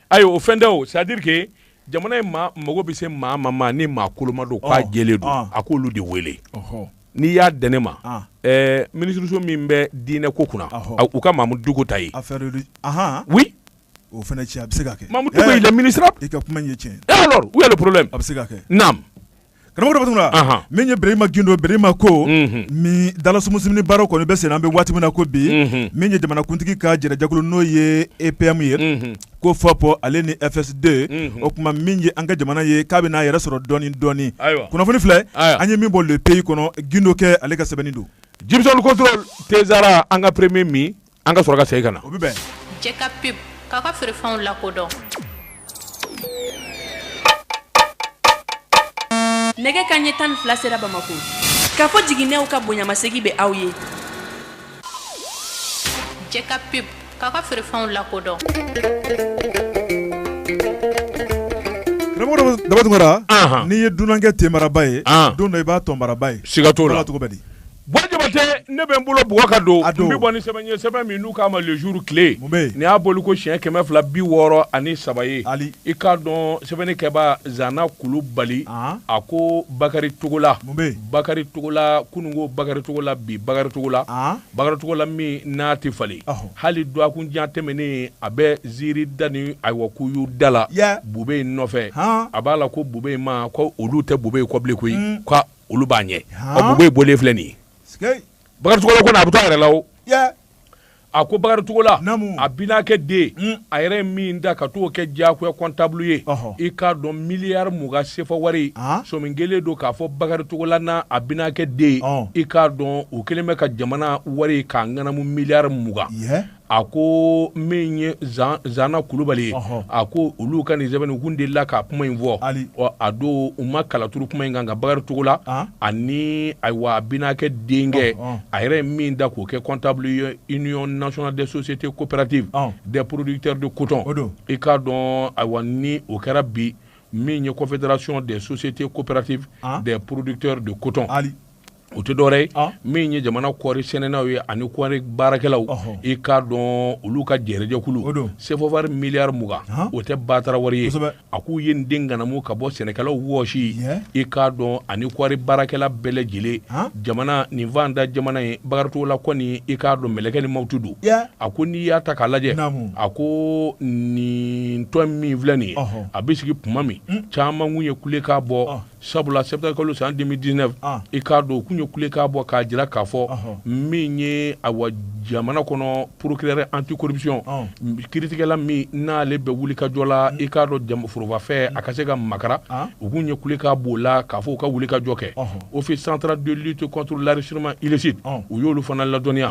ayi o fɛn tɛ o c'est à dire que jamana in maa mago bɛ se maa ma maa ni maa koloma don k'a jɛlen don a k'olu de wele n'i y'a di ne ma minisiriso min bɛ diinɛ ko kunna u ka mamudu diko ta yen o fana tiɲɛ a bɛ se ka kɛ mamudu diko il est ministre i ka kuma ye tiɲɛ où est le problème a bɛ se ka kɛ naamu karamɔgɔ daba tunkara min ye berema gindo berema ko nin dalasumusumuni baro kɔni bɛ senna an bɛ waati min na ko bi min ye jamanakuntigi ka jɛrɛjɛkulu n'o ye epm ye cofop ale ni fsd o tuma min ye an ka jamana ye k'a bɛ n'a yɛrɛ sɔrɔ dɔɔnin dɔɔnin kunnafoni filɛ an ye min bɔ le pays kɔnɔ gindo kɛ ale ka sɛbɛnni don jibison contrôle tɛ sara an ka premier min An ka sɔrɔ ka segin ka na. O bɛ bɛn. Jɛka pub k'a ka feerefɛnw lakodɔn. Nɛgɛ kanɲɛ tan ni fila sera Bamako. Kafo Jiginɛw ka bonyamasegin bɛ aw ye. Jɛka pub k'a ka feerefɛnw lakodɔn. Daba Tunkara, anhan, n'i ye dunankɛ tenbaraba ye, an, don dɔ i b'a tɔnbaraba ye, siga t'o la, o b'a la cogo bɛ di Jabate ne bɛ n bolo bugɔ ka don n bɛ bɔ ni sɛbɛn ye sɛbɛn min n'u k'a ma Le Jour tile nin y'a bɔli ko siɲɛ kɛmɛ fila bi wɔɔrɔ ani saba ye i k'a dɔn sɛbɛnnikɛba Zana Kulubali a ko Bakari Togola Bakari Togola kunun ko Bakari Togola bi Bakari Togola Bakari Togola min n'a tɛ falen hali dɔgɔkun jan tɛmɛnen a bɛ ziiri da ni ayiwa k'u y'u da la Bubeyi nɔfɛ a b'a la ko Bubeyi ma ko olu tɛ Bubeyi kɔ bilen koyi olu b'a ɲɛ Bubeyi bɔlen filɛ nin ye Bakari Togola ko a bɛ to a yɛrɛ la o a ko Bakari Togola a binakɛ den hmm. a yɛrɛ ye min da ka t'o kɛ diyagoya comptable ye i k'a dɔn miliyari mugan sefa wari sɔmi kɛlen don k'a fɔ Bakari Togola n'a binakɛ den i k'a dɔn o kɛlen bɛ ka jamana wari k'a ŋanamu miliyari mugan a ko min ye Zana Kulubali ye a ko olu ka nin sɛbɛn in kun delila ka kuma in fɔ a don u ma kalaturu kuma in kan nka Bakari Togola ani ayiwa a binakɛ denkɛ a yɛrɛ ye min da k'o kɛ comptable ye union nationale des sociétés coopératives des producteurs de coton i k'a dɔn ayiwa ni o kɛra bi min ye confédération des sociétés coopératives des producteurs de coton o tɛ dɔwɛrɛ ye ah. min ye jamana kɔɔri sɛnɛnaw ye ani kɔɔri baarakɛlaw i k'a dɔn olu ka jɛrɛjɛkulu sefa wari miliyari mugan ah. o tɛ batara wari ye a k'u ye nin de ŋanamu ka bɔ sɛnɛkɛlaw wɔsi i k'a dɔn ani kɔɔri baarakɛla bɛɛ lajɛlen ah. jamana nin fantan jamana ye Bakari Togola kɔni i k'a dɔn mɛlɛkɛ ni mawutu don a ko n'i y'a ta k'a lajɛ a ko nin tɔn min filɛ nin ye a bɛ sigi tuma min hmm. caman kun ye kulekan bɔ sabula septembre kalo san 2019 i k'a dɔn u kun ye kulekan bɔ k'a jira k'a fɔ min ye awa jamana kɔnɔ procureur anti-corruption kiritigɛla min n'ale bɛ wulikajɔ la i k'a dɔn jama forobafɛn a ka se ka makaran u kun ye kulekan b'o la k'a fɔ u ka wulikajɔ kɛ office central de lutte contre l'enrichissement illicite u y'olu fana ladɔnniya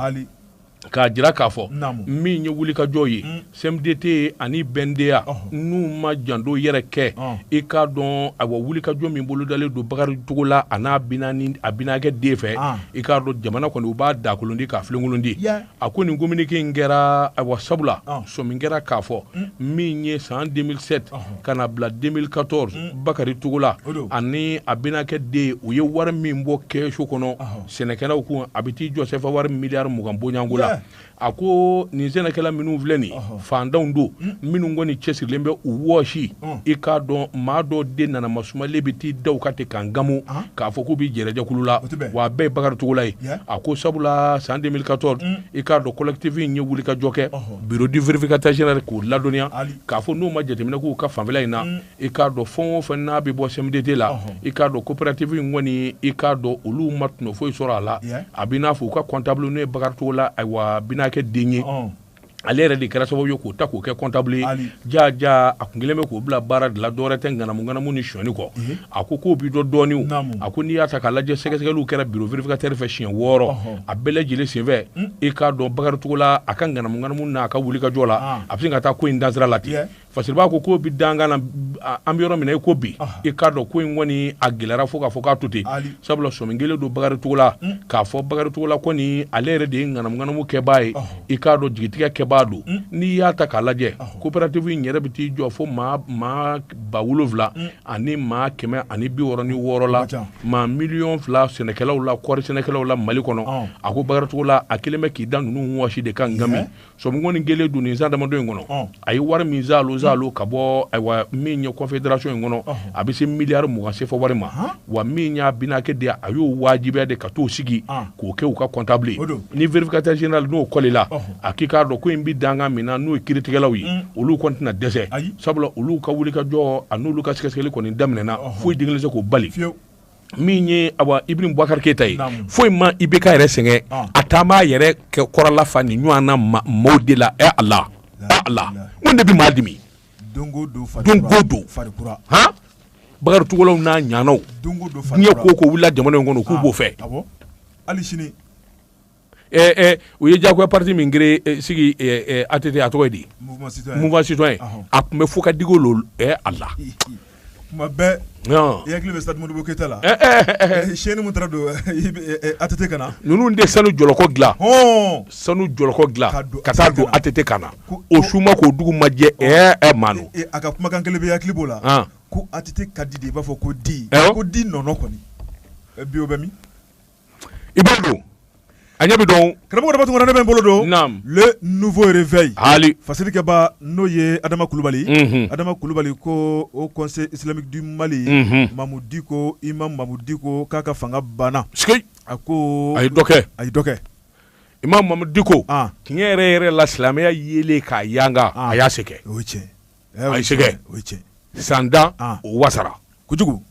k'a jira k'a fɔ min ye wulikajɔ ye mm. CMDT ani BNDA n'u ma janto yɛrɛ kɛ i k'a dɔn ayiwa wulikajɔ min bolodalen don Bakari Togola a n'a binani a binakɛ den fɛ i k'a dɔn jamana kɔni u b'a dakolondi k'a filenkolondi a ko nin communiqué in kɛra ayiwa sabula sɔmi kɛra k'a fɔ mm. min ye san 2007 ka na bila 2014 mm. Bakari Togola ani a binakɛ den u ye wari min bɔ kɛsu kɔnɔ sɛnɛkɛlaw kun a bɛ t'i jɔ sɛfa wari miliyari mugan bɔɲɔgɔnko la a ko nin sɛnɛkɛla minnu filɛ nin fantanw don hmm. minnu kɔni cɛsirilen bɛ u wɔsi hmm. i k'a dɔn maa dɔ de nana masumalen bɛ t'i da a kan ten k'a ŋanamu ah. k'a fɔ k'u bɛ jɛrɛjɛkulu la wa a bɛɛ ye Bakari Togola ye a ko sabula san 2014 hmm. i k'a dɔn collectif in ye wulikajɔ kɛ bureau du vérificateur général k'u ladɔnniya k'a fɔ n'u ma jateminɛ k'u ka fanfɛla in na i k'a dɔn fɛn o fɛn n'a bɛ bɔ CMDT la i k'a dɔn coopérative in kɔni i k'a dɔn olu ma tɔnɔ foyi sɔrɔ a la a b'i n'a fɔ u ka comptable n'o ye Bakari Togola ayiwa binakɛ den ye ale yɛrɛ de kɛra sababu ye k'o ta k'o kɛ comptable ye jaa jaa a tun kɛlen bɛ k'o bila baara de la dɔwɛrɛ tɛ ŋanamu ŋanamu ni sɔni kɔ a ko k'o b'i dɔn dɔɔni o a ko n'i y'a ta k'a lajɛ sɛgɛsɛgɛliw kɛra bureau vérificateur fɛ siɲɛ wɔɔrɔ a bɛɛ lajɛlen senfɛ i k'a dɔn Bakari Togola a ka ŋanamu ŋanamu n'a ka wulikajɔ la a bɛ sin ka taa ko in dansira la ten. fasiribaa ko k'o bi dankan na an bɛ yɔrɔ min na i ko bi i k'a dɔn ko in kɔni a gɛlɛyara fo k'a fɔ k'a to ten sabula sɔmi kɛlen don Bakari Togola hmm. k'a fɔ Bakari Togola kɔni ale yɛrɛ de ye ŋanamuŋanamu kɛbaa ye i k'a dɔn jigitigɛ kɛbaa don hmm. n'i y'a ta k'a lajɛ coopérative in yɛrɛ bɛ t'i jɔ fo maa maa ba wolonwula hmm. ani maa kɛmɛ ani bi wɔɔrɔ ni wɔɔrɔ la maa miliyɔn fila sɛnɛkɛlaw la kɔɔri sɛnɛkɛlaw la Mali kɔnɔ a ko Bakari Togola a kɛlen bɛ k'i da ninnu wɔsi de kan ŋami sɔmi kɔni kɛlen don nin san damadɔ in kɔnɔ oh. a ye wari min zalo zalo ka bɔ ayiwa min ye confédération in kɔnɔ oh. a bɛ se miliyari mugan sefa wari ma wa min y'a binakɛ den a y'o wajibiya de ka t'o sigi ah. k'o kɛ u ka comptable ye ni vérificateur général n'o kɔlila oh. a k'i k'a dɔn ko in bɛ dankan min na n'o ye kiritigɛlaw ye mm. olu kɔni tɛna dɛsɛ sabula olu ka wulikajɔ a n'olu ka sɛgɛsɛgɛli kɔni daminɛna foyi den kelen tɛ se k'o bali min ye awa Ibrahim Bubakari Keyita ye foyi ma IBK yɛrɛ sɛgɛn ah. a taa b'a yɛrɛ k'a kɔrɔla fa nin ɲɔgɔnna maaw de la ɛ Ala ɛ Ala mun de bɛ maa dimi don go don han Bakari Togolaw n'a ɲanaw diɲɛ ko ko wulila jamana in kɔnɔ k'u ah. b'o fɛ hali sini u ye jagoya pati min sigi ATT a tɔgɔ di Mouvement citoyen a tun bɛ fo ka digo Ala kuma bɛɛ hakili bɛ stade Modibo Keyita la chaîne min don ATT kan na ninnu de sanu jɔlɔkɔ dila sanu jɔlɔkɔ dila ka taa don ATT kan na o su ma ko dugu ma jɛ ɛ ma a ka kumakan kelen bɛɛ hakili b'o la ko ATT ka di i b'a fɔ ko di ko di nɔnɔ kɔni bi o bɛ min i bolo don a ɲɛ bɛ dɔn karamɔgɔ Daba Tunkara ne bɛ n bolo don naam le nouveau réveil haali fasirikɛbaa n'o ye Adama Kulubali unhun Adama Kulubali koo haut conseil islamique du Mali unhun Mamu Diko imam Mamu Diko k'a ka fanga banna sikei a koo a ye dɔ kɛ a ye dɔ kɛ imam Mamu Diko an tiɲɛ yɛrɛ-yɛrɛ la silamɛya yeelen k'a yanga an a y'a se kɛ o ye tiɲɛ ye a y'a se kɛ san tan o wasara kojugu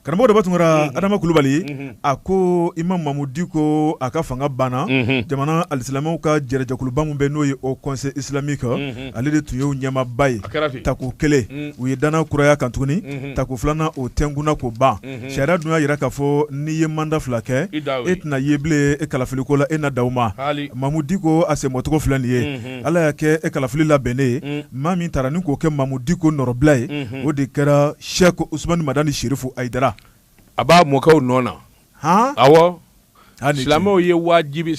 karamɔgɔ Daba Tunkara Adama Kulubali a ko imam Mamu Diko a ka fanga banna jamana alisilamɛw ka jɛrɛjɛkuluba min bɛ n'o ye haut conseil islamique ale de tun y'o ɲɛmaaba ye tako kelen u ye danna kuraya kan tuguni tako filanan o tɛnkunna k'o ban sariya dun y'a jira k'a fɔ n'i ye mandat fila kɛ e tɛna ye bilen e kalafiliko la e na da ma Mamu Diko a senbɔcogo filɛ nin ye ala y'a kɛ e kalafili labɛnnen ye maa min tara ni k'o kɛ mamu diko nɔrɔbila ye o de kɛra sɛki usumani madani sirifu hayidara a b'a mɔkɛ nɔ na awɔ silamɛw ye wajibi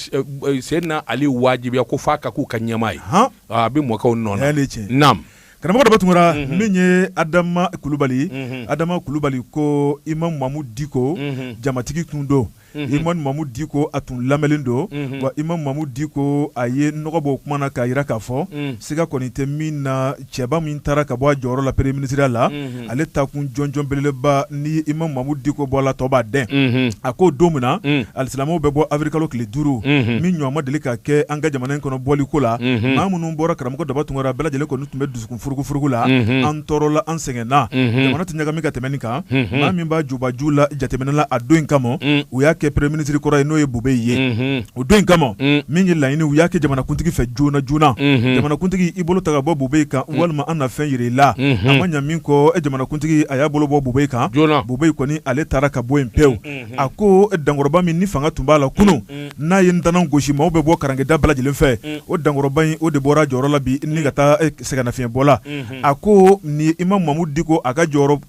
seyidina ali wajibiya ko f'a ka k'u ka ɲɛmaa ye a bɛ mɔkɛ nɔ na karamɔgɔ daba tunkara min ye adama kulubali adama kulubali ko imam mamu diko jamatigi tun don imam mamu diko a tun lamɛnlen don wa imam mamu diko a ye nɔgɔ bɔ o kuma na k'a jira k'a fɔ siga kɔni tɛ min na cɛba min taara ka bɔ a jɔyɔrɔ la premier ministriya la ale taa kun jɔnjɔn belebeleba ni imam mamu diko bɔla tɔɔ b'a dɛn a ko don min na alisilamɛw bɛ bɔ awirili kalo tile duuru min ɲɔgɔn ma deli ka kɛ an ka jamana in kɔnɔ bɔli ko la maa minnu bɔra karamɔgɔ daba tunkara bɛɛ lajɛlen kɔni tun bɛ dusu kun furugufurugu la unhun an tɔɔrɔla an sɛgɛnna unhun jamana tɛ ɲagami ka tɛmɛ nin kan unhun maa min b'a jubaju la jateminɛ la a don in kama un u y'a kɛ premier ministre kɔrɔ ye n'o ye Bube ye unhun o don in kama un min ye laɲini u y'a kɛ jamanakuntigi fɛ joona joona unhun jamanakuntigi i bolo ta ka bɔ Bube kan walima an na fɛn yira i la a unhun ma ɲa min kɔ e jamanakuntigi a y'a bolo bɔ Bube kan joona Bube kɔni ale taara ka bɔ yen pewu unhun a ko dankɔrɔba min ni fanga tun b'a la kunun n'a ye ntanan gosi maaw bɛ bɔ karangeda bɛɛ lajɛlen fɛ o dankɔrɔba in o de bɔra jɔyɔrɔ la bi ni ka taa sɛgɛnnafiɲɛbɔ la a ko ni imam mamu diko a ka jɔyɔrɔ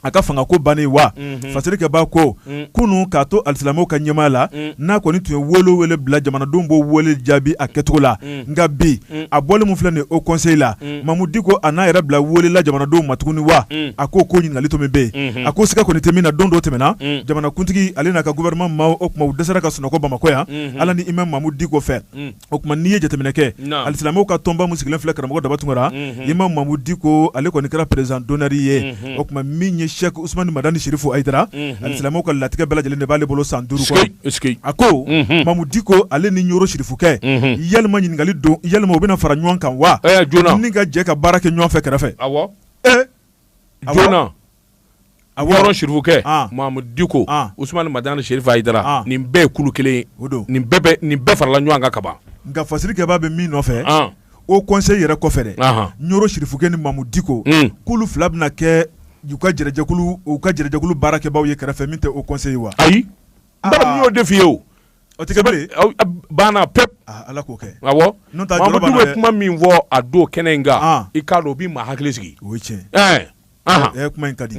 a ka fanga ko bannen wa fasirikɛbaa ko kunun k'a to alisilamɛw ka ɲɛmaa la n'a kɔni tun ye wele wele bila jamanadenw b'o wele jaabi a kɛcogo la nka bi a bɔlen min filɛ nin haut conseil la mamu diko a n'a yɛrɛ bila wele la jamanadenw ma tuguni wa a ko ko ɲininkali tɔ min bɛ yen a ko siga kɔni tɛ min na don dɔ tɛmɛna jamanakuntigi ale n'a ka gouvernement maaw o tuma u dɛsɛra ka sunɔgɔ bamakɔ yan ala ni imam mamu diko fɛ o tuma n'i ye jateminɛ kɛ alisilamɛw ka tɔnba min sigilen filɛ karamɔgɔ daba tunkara imam mamu diko ale kɔni kɛra président d'honneur ye o tuma min ye sɛki usumani madani sirifu hayidara alisilamɛw ka latigɛ bɛɛ lajɛlen de b'ale bolo san duuru kɔnɔ a ko mamu diko ale ni ɲɔrɔ sirifukɛ yalima ɲininkali don yalima u bɛna fara ɲɔgɔn kan wa ni ka jɛ ka baara kɛ ɲɔgɔn fɛ kɛrɛfɛ a a ɲɔrɔ sirifukɛ mamu diko usumani madani sirifu hayidara nin bɛɛ ye kulu kelen nin nin bɛɛ farala ɲɔgɔn kan kaban nka fasirikɛbaa bɛ min nɔfɛ haut conseil yɛrɛ kɔfɛ dɛ ɲɔrɔ sirifukɛ ni mamu diko k'olu fila bɛna kɛ uu ka u ka jɛrɛjɛkulu baarakɛbaaw ye kɛrɛfɛ min tɛ haut conseil wa ayi n y'o de f'i ye o o tɛ banna pewu ala k'o kɛ mamu diko ye kuma min fɔ a don kɛnɛ in kan i k'a dɔn o bɛ maa hakili sigi o ye tiɲɛ kuma in ka di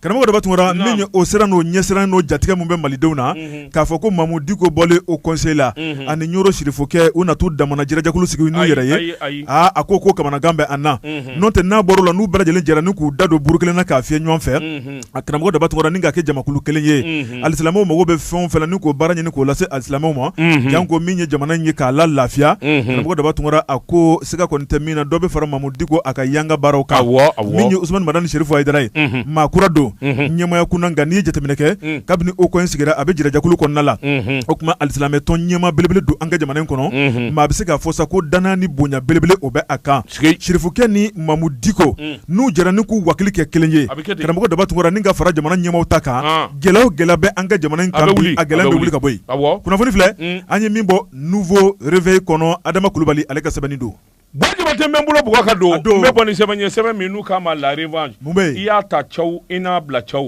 karamɔgɔ daba tunkara min o siran n'o ɲɛsiran n'o jatigɛ min bɛ malidenw na k'a fɔ ko mamu diko bɔlen haut conseil la ani ɲɔrɔ sirifukɛ u na t'u damana jɛrɛjɛkulu sigi n'u yɛrɛ ye aaa a ko ko kamanagan bɛ an na n'o tɛ n'a bɔr'o la n'u bɛɛ lajɛlen jɛra ni k'u da don buru kelen na k'a fiyɛ ɲɔgɔn fɛ a karamɔgɔ daba tunkara ni ka kɛ jamakulu kelen ye alisilamɛw mago bɛ fɛn o fɛn na ni k'o baara ɲini k'o lase alisilamɛw ma janko min ye jamana in ye k'a la lafiya karamɔgɔ daba tunkara a ko siga kɔni tɛ min na dɔ bɛ fara mamu diko a ka yanga baaraw kan min ye usumani madani serifu hayidara ye maa kura don ɲɛmaya kunna nka n'i ye jateminɛ kɛ kabini haut conseil sigira a bɛ jɛrɛjɛkulu kɔnɔna la o tuma alisilamɛ tɔn ɲɛmaa belebele don an ka jamana in kɔnɔ maa bɛ se k'a fɔ sa ko dannaya ni bonya belebele o bɛ a kan serifukɛ ni mamu diko n'u jɛra ni k'u hakili kɛ kelen ye karamɔgɔ daba tunkara ni ka fara jamana ɲɛmaaw ta kan gɛlɛya o gɛlɛya bɛ an ka jamana in kan bi a gɛlɛya bɛ wuli ka bɔ yen kunnafoni filɛ an ye min bɔ nouveau réveil kɔnɔ adama kulubali ale ka sɛbɛnni don bɔjaba tɛ n bɛ n bolo bugɔ ka don n bɛ bɔ ni sɛbɛn ye sɛbɛn min n'u k'a ma la revanche i y'a ta ca i n'a bila ca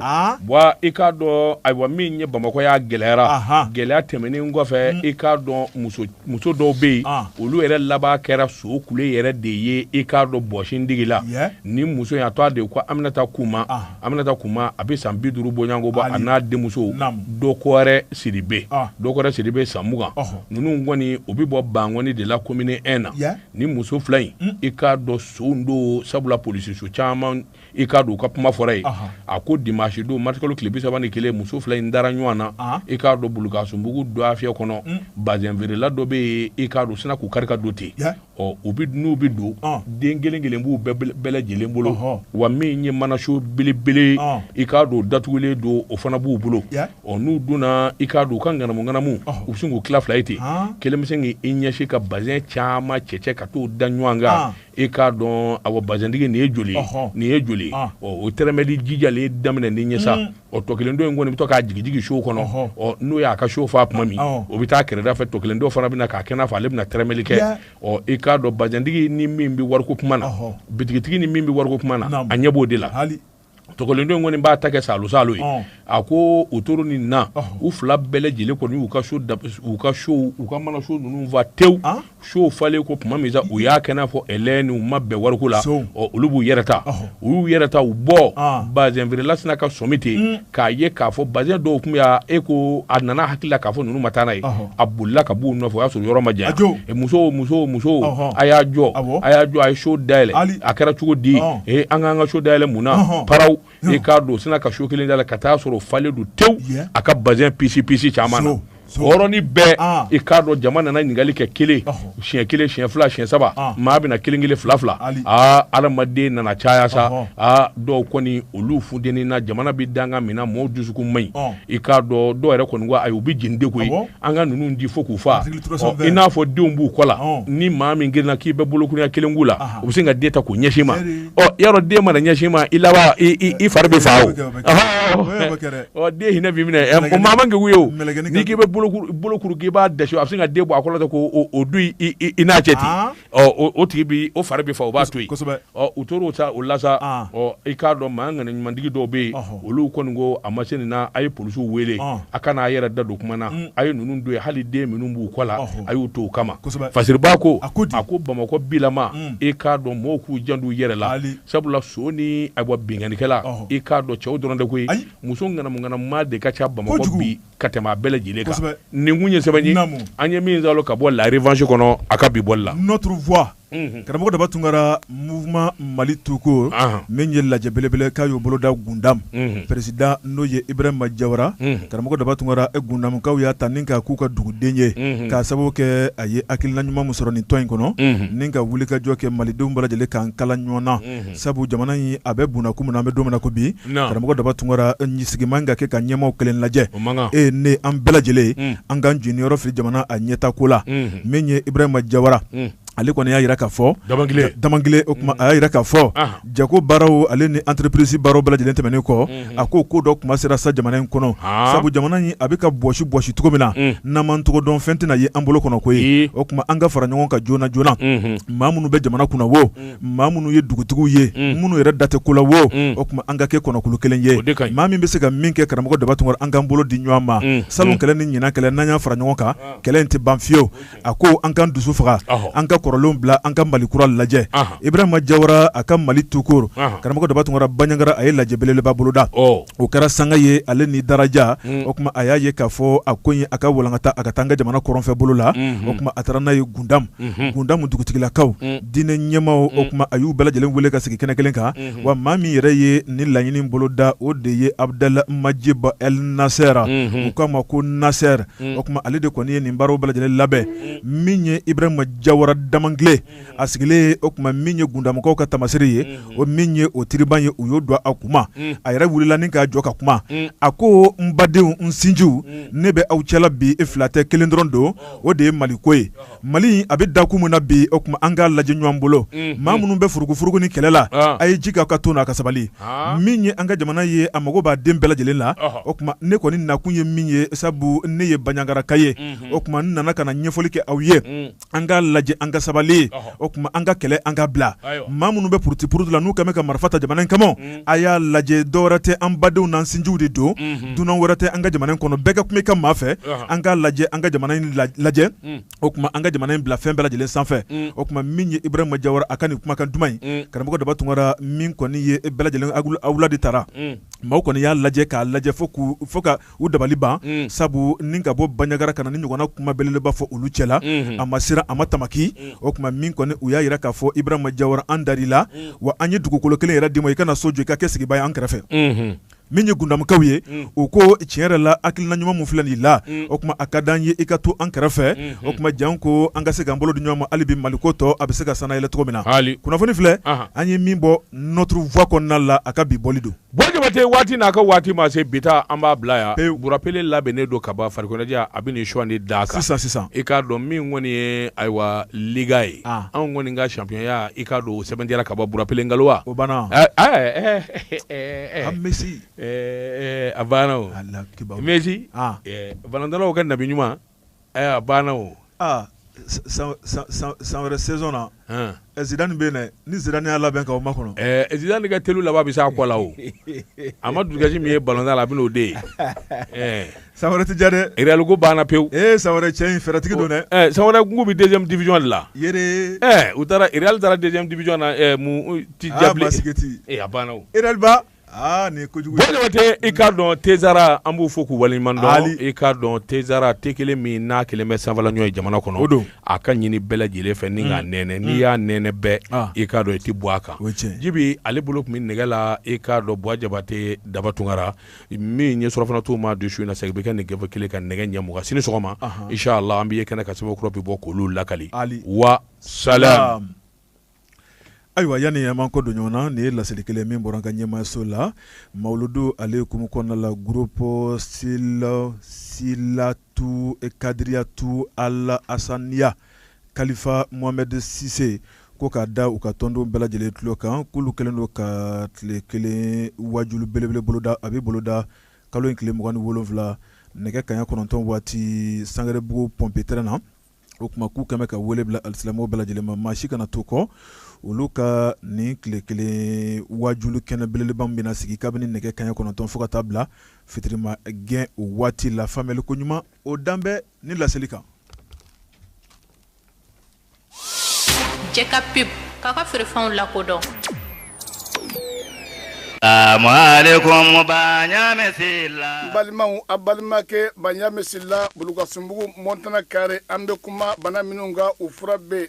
wa i k'a dɔn ayiwa min ye bamakɔ y'a gɛlɛyara gɛlɛya tɛmɛnen kɔfɛ i k'a dɔn muso muso dɔw bɛ yen ah. olu yɛrɛ laban kɛra so kule yɛrɛ de ye i k'a dɔn bɔsin digi la ni muso in a tɔgɔ de ko aminata kuma ah. aminata kuma a bɛ san bi duuru bɔɲɔgɔnko bɔ a n'a denmuso dɔkɔrɛ siribe ah. dɔkɔrɛ siribe san mugan ninnu kɔni u bɛ bɔ bankɔni de la komini 1 na ni muso fila in i k'a dɔn son don sabula polisiso caman i k'a dɔn u ka kuma fɔra yen a ko dimanche don marisikalo tile bi saba ni kelen muso fila in dara ɲɔgɔn na i k'a dɔn bulukasunbugu dɔgɔfiyɛ kɔnɔ mm. bazɛnfeerela dɔ bɛ yen i k'a dɔn sinna k'u kari ka don ten ɔ u bɛ n'u bɛ don den kelen kelen b'u bɛɛ lajɛlen bolo wa min ye manaso belebele i k'a dɔn datugulen don o fana b'u bolo ɔ n'u donna i k'a dɔn u ka ŋanamu ŋanamu u bɛ sin k'u tila fila ye ten kelen bɛ sin k'i ɲɛsin ka bazɛn caman cɛcɛ ka t'o da ɲɔgɔn kan i k'a dɔn awa bazɛntigi nin ye joli nin ye joli o tɛrɛmɛli jijalen daminɛ ni ɲɛ sa mm. ɔ tɔ kelen dɔ in kɔni bɛ to k'a jigijigi so kɔnɔ ɔ n'o y'a ka so fa tuma min o bɛ taa kɛrɛda fɛ tɔ kelen dɔ fana bɛna k'a kɛ n'a fɔ ale bɛna tɛrɛmɛli kɛ ɔ i k'a dɔn bazɛntigi ni min bɛ wariko kuma na bitigitigi ni min bɛ wariko kuma na a ɲɛ b'o de la tɔ kelen dɔ in kɔni b'a ta kɛ salo salo ye a ko o toro ni na u fila bɛɛ lajɛlen kɔni u ka so u ka so u ka manaso ninnu fa tewu so falen kɔ tuma min sa u y'a kɛ n'a fɔ e ni u ma bɛn wariko la olu b'u yɛrɛ ta u y'u yɛrɛ ta u bɔ bazɛnfeerela sinna ka sɔmi ten k'a ye k'a fɔ bazɛn dɔw tun y'a e ko a nana hakili la k'a fɔ ninnu ma taa n'a ye a bolila ka b'u nɔfɛ o y'a sɔrɔ yɔrɔ ma janya musow musow musow a y'a jɔ a y'a jɔ a ye so dayɛlɛ a kɛra cogo di ee an k'an ka so dayɛlɛ mun na paraw i k'a dɔn sinna ka so kelen dayɛlɛ ka t'a sɔrɔ falen don tewu a ka bazɛn pisi pisi caman na hɔrɔni bɛɛ ah. i k'a dɔn jama nana ɲininkali kɛ kelen siɲɛ kelen siɲɛ fila siɲɛ saba ah. maa bɛna kelen kelen fila fila aa ah, adamaden nana caya sa aa dɔw kɔni olu funteni na jamana bɛ danga min na mɔɔw dusukun man ɲi i k'a dɔn dɔw yɛrɛ kɔni ko ayi u bɛ jeni de koyi an ka ninnu di fo k'u faa i n'a fɔ denw b'u kɔ la ni maa min girinna k'i bɛ bolokuruɲɛ kelen k'u la u bɛ sin ka den ta k'o ɲɛsin i ma ɔ yɔrɔ den mana ɲɛsin i ma i laban i fari bɛ faa o den hinɛ b'i minɛ o maa man kegu ye o n'i k'i bɛ bolokuru k'i b'a dɛsɛ a bɛ sin ka den bɔ a kɔ la ten k'o don i n'a cɛ ten O tigi bi o fari bɛ faa o b'a to yen u tora o la sa i k'a dɔn maa ŋaniya ɲumantigi dɔw bɛ yen olu kɔni ko a ma se nin na a ye polisiw wele a kana a yɛrɛ da don kuma na a ye ninnu don ye hali den minnu b'u kɔ la a y'u to o kama fasiriba ko a ko ko bamakɔ bilama i k'a dɔn mɔgɔw k'u janto u yɛrɛ la sabula son ni a bɔ binkannikɛla i k'a dɔn cɛw dɔrɔn tɛ koyi muso ŋanamuŋanamu de ka ca bamakɔ bi ka tɛmɛ a bɛɛ lajɛlen kan kosɛbɛ nin kun ye sɛbɛn ye naamu an ye min zalo ka bɔ la revanche kɔnɔ a ka bi bɔli la notre voix unhun karamɔgɔ Daba Tunkara mouvement Mali tout court anhan min ye lajɛ belebele k'a y'o boloda Gundam unhun président n'o ye Ibrahima Diawara unhun karamɔgɔ Daba Tunkara e Gundamkaw y'a ta ni k'a k'u ka duguden ye unhun k'a sababu kɛ a ye hakilina ɲuman min sɔrɔ nin tɔn in kɔnɔ unhun ni ka wulikajɔ kɛ Malidenw bɛɛ lajɛlen k'an kala ɲɔɔn na unhun sabu jamana in a bɛ bunna ko min na an bɛ don min na ko bi karamɔgɔ daba tunkara sigi man ka kɛ ka ɲɛmaa kelen lajɛ e ne an bɛɛ lajɛlen an k'an jeniyɔrɔ fili jamana a ɲɛta ko la min ye Ibrahima Diawara ale kɔni y'a jira k'a fɔ Damangile o kuma a y'a jira k'a fɔ jago baaraw ale ni entreprise baaraw bɛɛ lajɛlen tɛmɛnen kɔ a ko ko dɔ kuma sera sa jamana in kɔnɔ sabu jamana in a bɛ ka bɔsi bɔsi cogo min na n'an m'an tɔgɔ dɔn fɛn tɛna ye an bolo kɔnɔ koyi o kuma an ka fara ɲɔgɔn kan joona joona maa minnu bɛ jamana kunna wo maa minnu ye dugutigiw ye minnu yɛrɛ da tɛ ko la wo o kuma an ka kɛ kɔnɔkulu kelen ye maa min bɛ se ka min kɛ karamɔgɔ daba tunkara an k'an bolo di ɲɔgɔn ma salon kɛlɛ ni ɲinan kɛlɛ n'an y'a fara ɲɔgɔn kan kɛlɛ in tɛ ban fiyewu a ko an k'an dusu faga an ka kɔrɔlenw bila an ka mali kura lajɛ Ibrahima Diawara a ka mali tout court karamɔgɔ daba tunkara Baɲagara a ye lajɛ belebeleba boloda o kɛra sanga ye ale ni daraja o kuma a y'a ye k'a fɔ a ko in a ka walankata a ka taa an ka jamana kɔrɔnfɛ bolo la o kuma a taara n'a ye Gundam Gundamu dugutigilakaw diinɛ ɲɛmaaw o kuma a y'u bɛɛ lajɛlen wele ka sigi kɛnɛ kelen kan wa maa min yɛrɛ ye nin laɲini bolo da o de ye Abdoul Majid El Nasser u k'a ma ko Nasser o kuma ale de kɔni ye nin baaraw bɛɛ lajɛlen labɛn min ye Ibrahima Diawara Damangile a sigilen o kuma min ye Gundamkaw ka taamaseere ye o min ye o tiriban ye u y'o don a kuma a yɛrɛ wulila ni k'a jɔ ka kuma a ko n badenw n sinjiw ne bɛ aw cɛla bi fila tɛ kelen dɔrɔn don o de ye mali ko ye mali a bɛ dakun min na bi o kuma an k'a lajɛ ɲɔgɔn bolo maa minnu bɛ furugufurugu ni kɛlɛ la a ye ji ka ka to n'a ka sabali min ye an ka jamana ye a mago b'a den bɛɛ lajɛlen la o kuma ne kɔni nakun ye min ye sabu ne ye Baɲagaraka ye o kuma n nana ka na ɲɛfɔli kɛ aw ye an k'a lajɛ an ka sabali o tuma an ka kɛlɛ an k'a bila maa minnu bɛ puruti puruti la n'u kɛlen bɛ ka marifa ta jamana in kama a y'a lajɛ dɔ wɛrɛ tɛ an badenw n'an sinjiw de don dunan wɛrɛ tɛ an ka jamana in kɔnɔ bɛɛ ka kuma i ka maa fɛ an k'a lajɛ an ka jamana in lajɛ o tuma an ka jamana in bila fɛn bɛɛ lajɛlen sanfɛ o tuma min ye Ibrahima Jawara a ka nin kumakan duman in karamɔgɔ Daba Tunkara min kɔni ye bɛɛ lajɛlen a wula de taara maaw kɔni y'a lajɛ k'a lajɛ fo k' fo ka u dabali ban sabu ni ka bɔ Banjagara ka na ni ɲɔgɔnna kuma belebeleba fɔ olu cɛla la a ma siran a ma tamaki o tuma min kɔni u y'a jira k'a fɔ Ibrahima Jawara an dar'i la wa an ye dugukolo kelen yɛrɛ d'i ma i ka na so jɔ i ka kɛ sigibaa ye an kɛrɛfɛ min ye Gundamkaw ye u ko tiɲɛ yɛrɛ la hakilina ɲuman min filɛ i la o tuma a ka di an ye i ka to an kɛrɛfɛ o tuma janko an ka se k'an bolo di ɲɔgɔn ma hali bi Maliko tɔ a bɛ se ka sannayɛlɛ cogo min na kunnafoni filɛ an ye min bɔ Notre Voie kɔnɔna la a ka bi bɔli don Bon jabate waati n'a ka waati ma se bi ta an b'a bila yan Bura Pele labɛnnen don ka ban farikoloɲɛnajɛ a bɛ suwan de da kan sisan sisan i k'a dɔn min kɔni ye ayiwa Liga ye anw kɔni ka championya i k'a dɔn sɛbɛntiyara ka ban Bura Pele nkalon wa o banna Messi a banna Messi balɔntannaw ka nabi ɲuman Ayiwa a banna o san wɛrɛ saison na ɛ Zidane bɛ yen ni Zidane y'a labɛn ka o makɔnɔ Zidane ka telu laban bɛ se a kɔ la o a ma dusukasi min ye balɔntan la a bɛ n'o de ye san wɛrɛ tɛ jan dɛ Real ko banna pewu ee san wɛrɛ cɛ in fɛɛrɛtigi don dɛ san wɛrɛ k'u bɛ deuxième division de la u taara Real taara deuxième division na tɛ ja sigiti e banna Aa nin ye kojugu ye Bon Jabate i k'a dɔn Tezara an b'u fo k'u waleɲuman dɔn Ali i k'a dɔn Tezara te 1 min n'a 1 bɛ sanfɛlaɲɔ ye jamana kɔnɔ o don a ka ɲini bɛɛ lajɛlen fɛ ni k'a nɛnɛ n'i y'a nɛnɛ bɛɛ aa i k'a dɔn i ti bɔ a kan o ye tiɲɛ ye Djiby ale bolo tun be nɛgɛ la i k'a dɔn Buwa Jabate Daba Tunkara min ye surafana tuma bi su in na segin be kɛ nin gafe 1 kan nɛgɛ ɲɛ mugan sini sɔgɔma anhan inchallah an bɛ ye kɛnɛ kan sɛbɛn kura be bɔ k'olu lakali Ali wa salam Ayiwa yanni an ma kɔ don ɲɔgɔn na nin ye laseli kelen min bɔra an ka ɲɛmaayaso la mawuludu ale kumu kɔnɔna la groupe Silsilatu Kadiriyatu Al Asaniya kalifa Mohamed Sise ko k'a da u ka tɔndenw bɛɛ lajɛlen tulo kan k'olu kɛlen don ka tile kelen waajuli belebele boloda a bɛ boloda kalo in tile mugan ni wolonwula nɛgɛ kaɲa kɔnɔntɔn waati Sangarebugu pɔnpi tɛrɛn na o tuma k'u kɛmɛ ka wele bila alisilamɛw bɛɛ lajɛlen ma maa si kana to kɔ olu ka nin tile kelen waajuli kɛnɛ belebeleba min bɛna sigi kabini nɛgɛ kaɲɛ kɔnɔntɔn fo ka taa bila fitirima gɛn o waati la faamuyali ko ɲuman o dan bɛ nin laseli kan Jɛka pub k'a ka feerefɛnw lakodɔn Salam ba la balimaw a balimakɛ Baɲamɛ Sila Bulukasunbugu Montana kare an bɛ kuma bana minnu kan u fura bɛ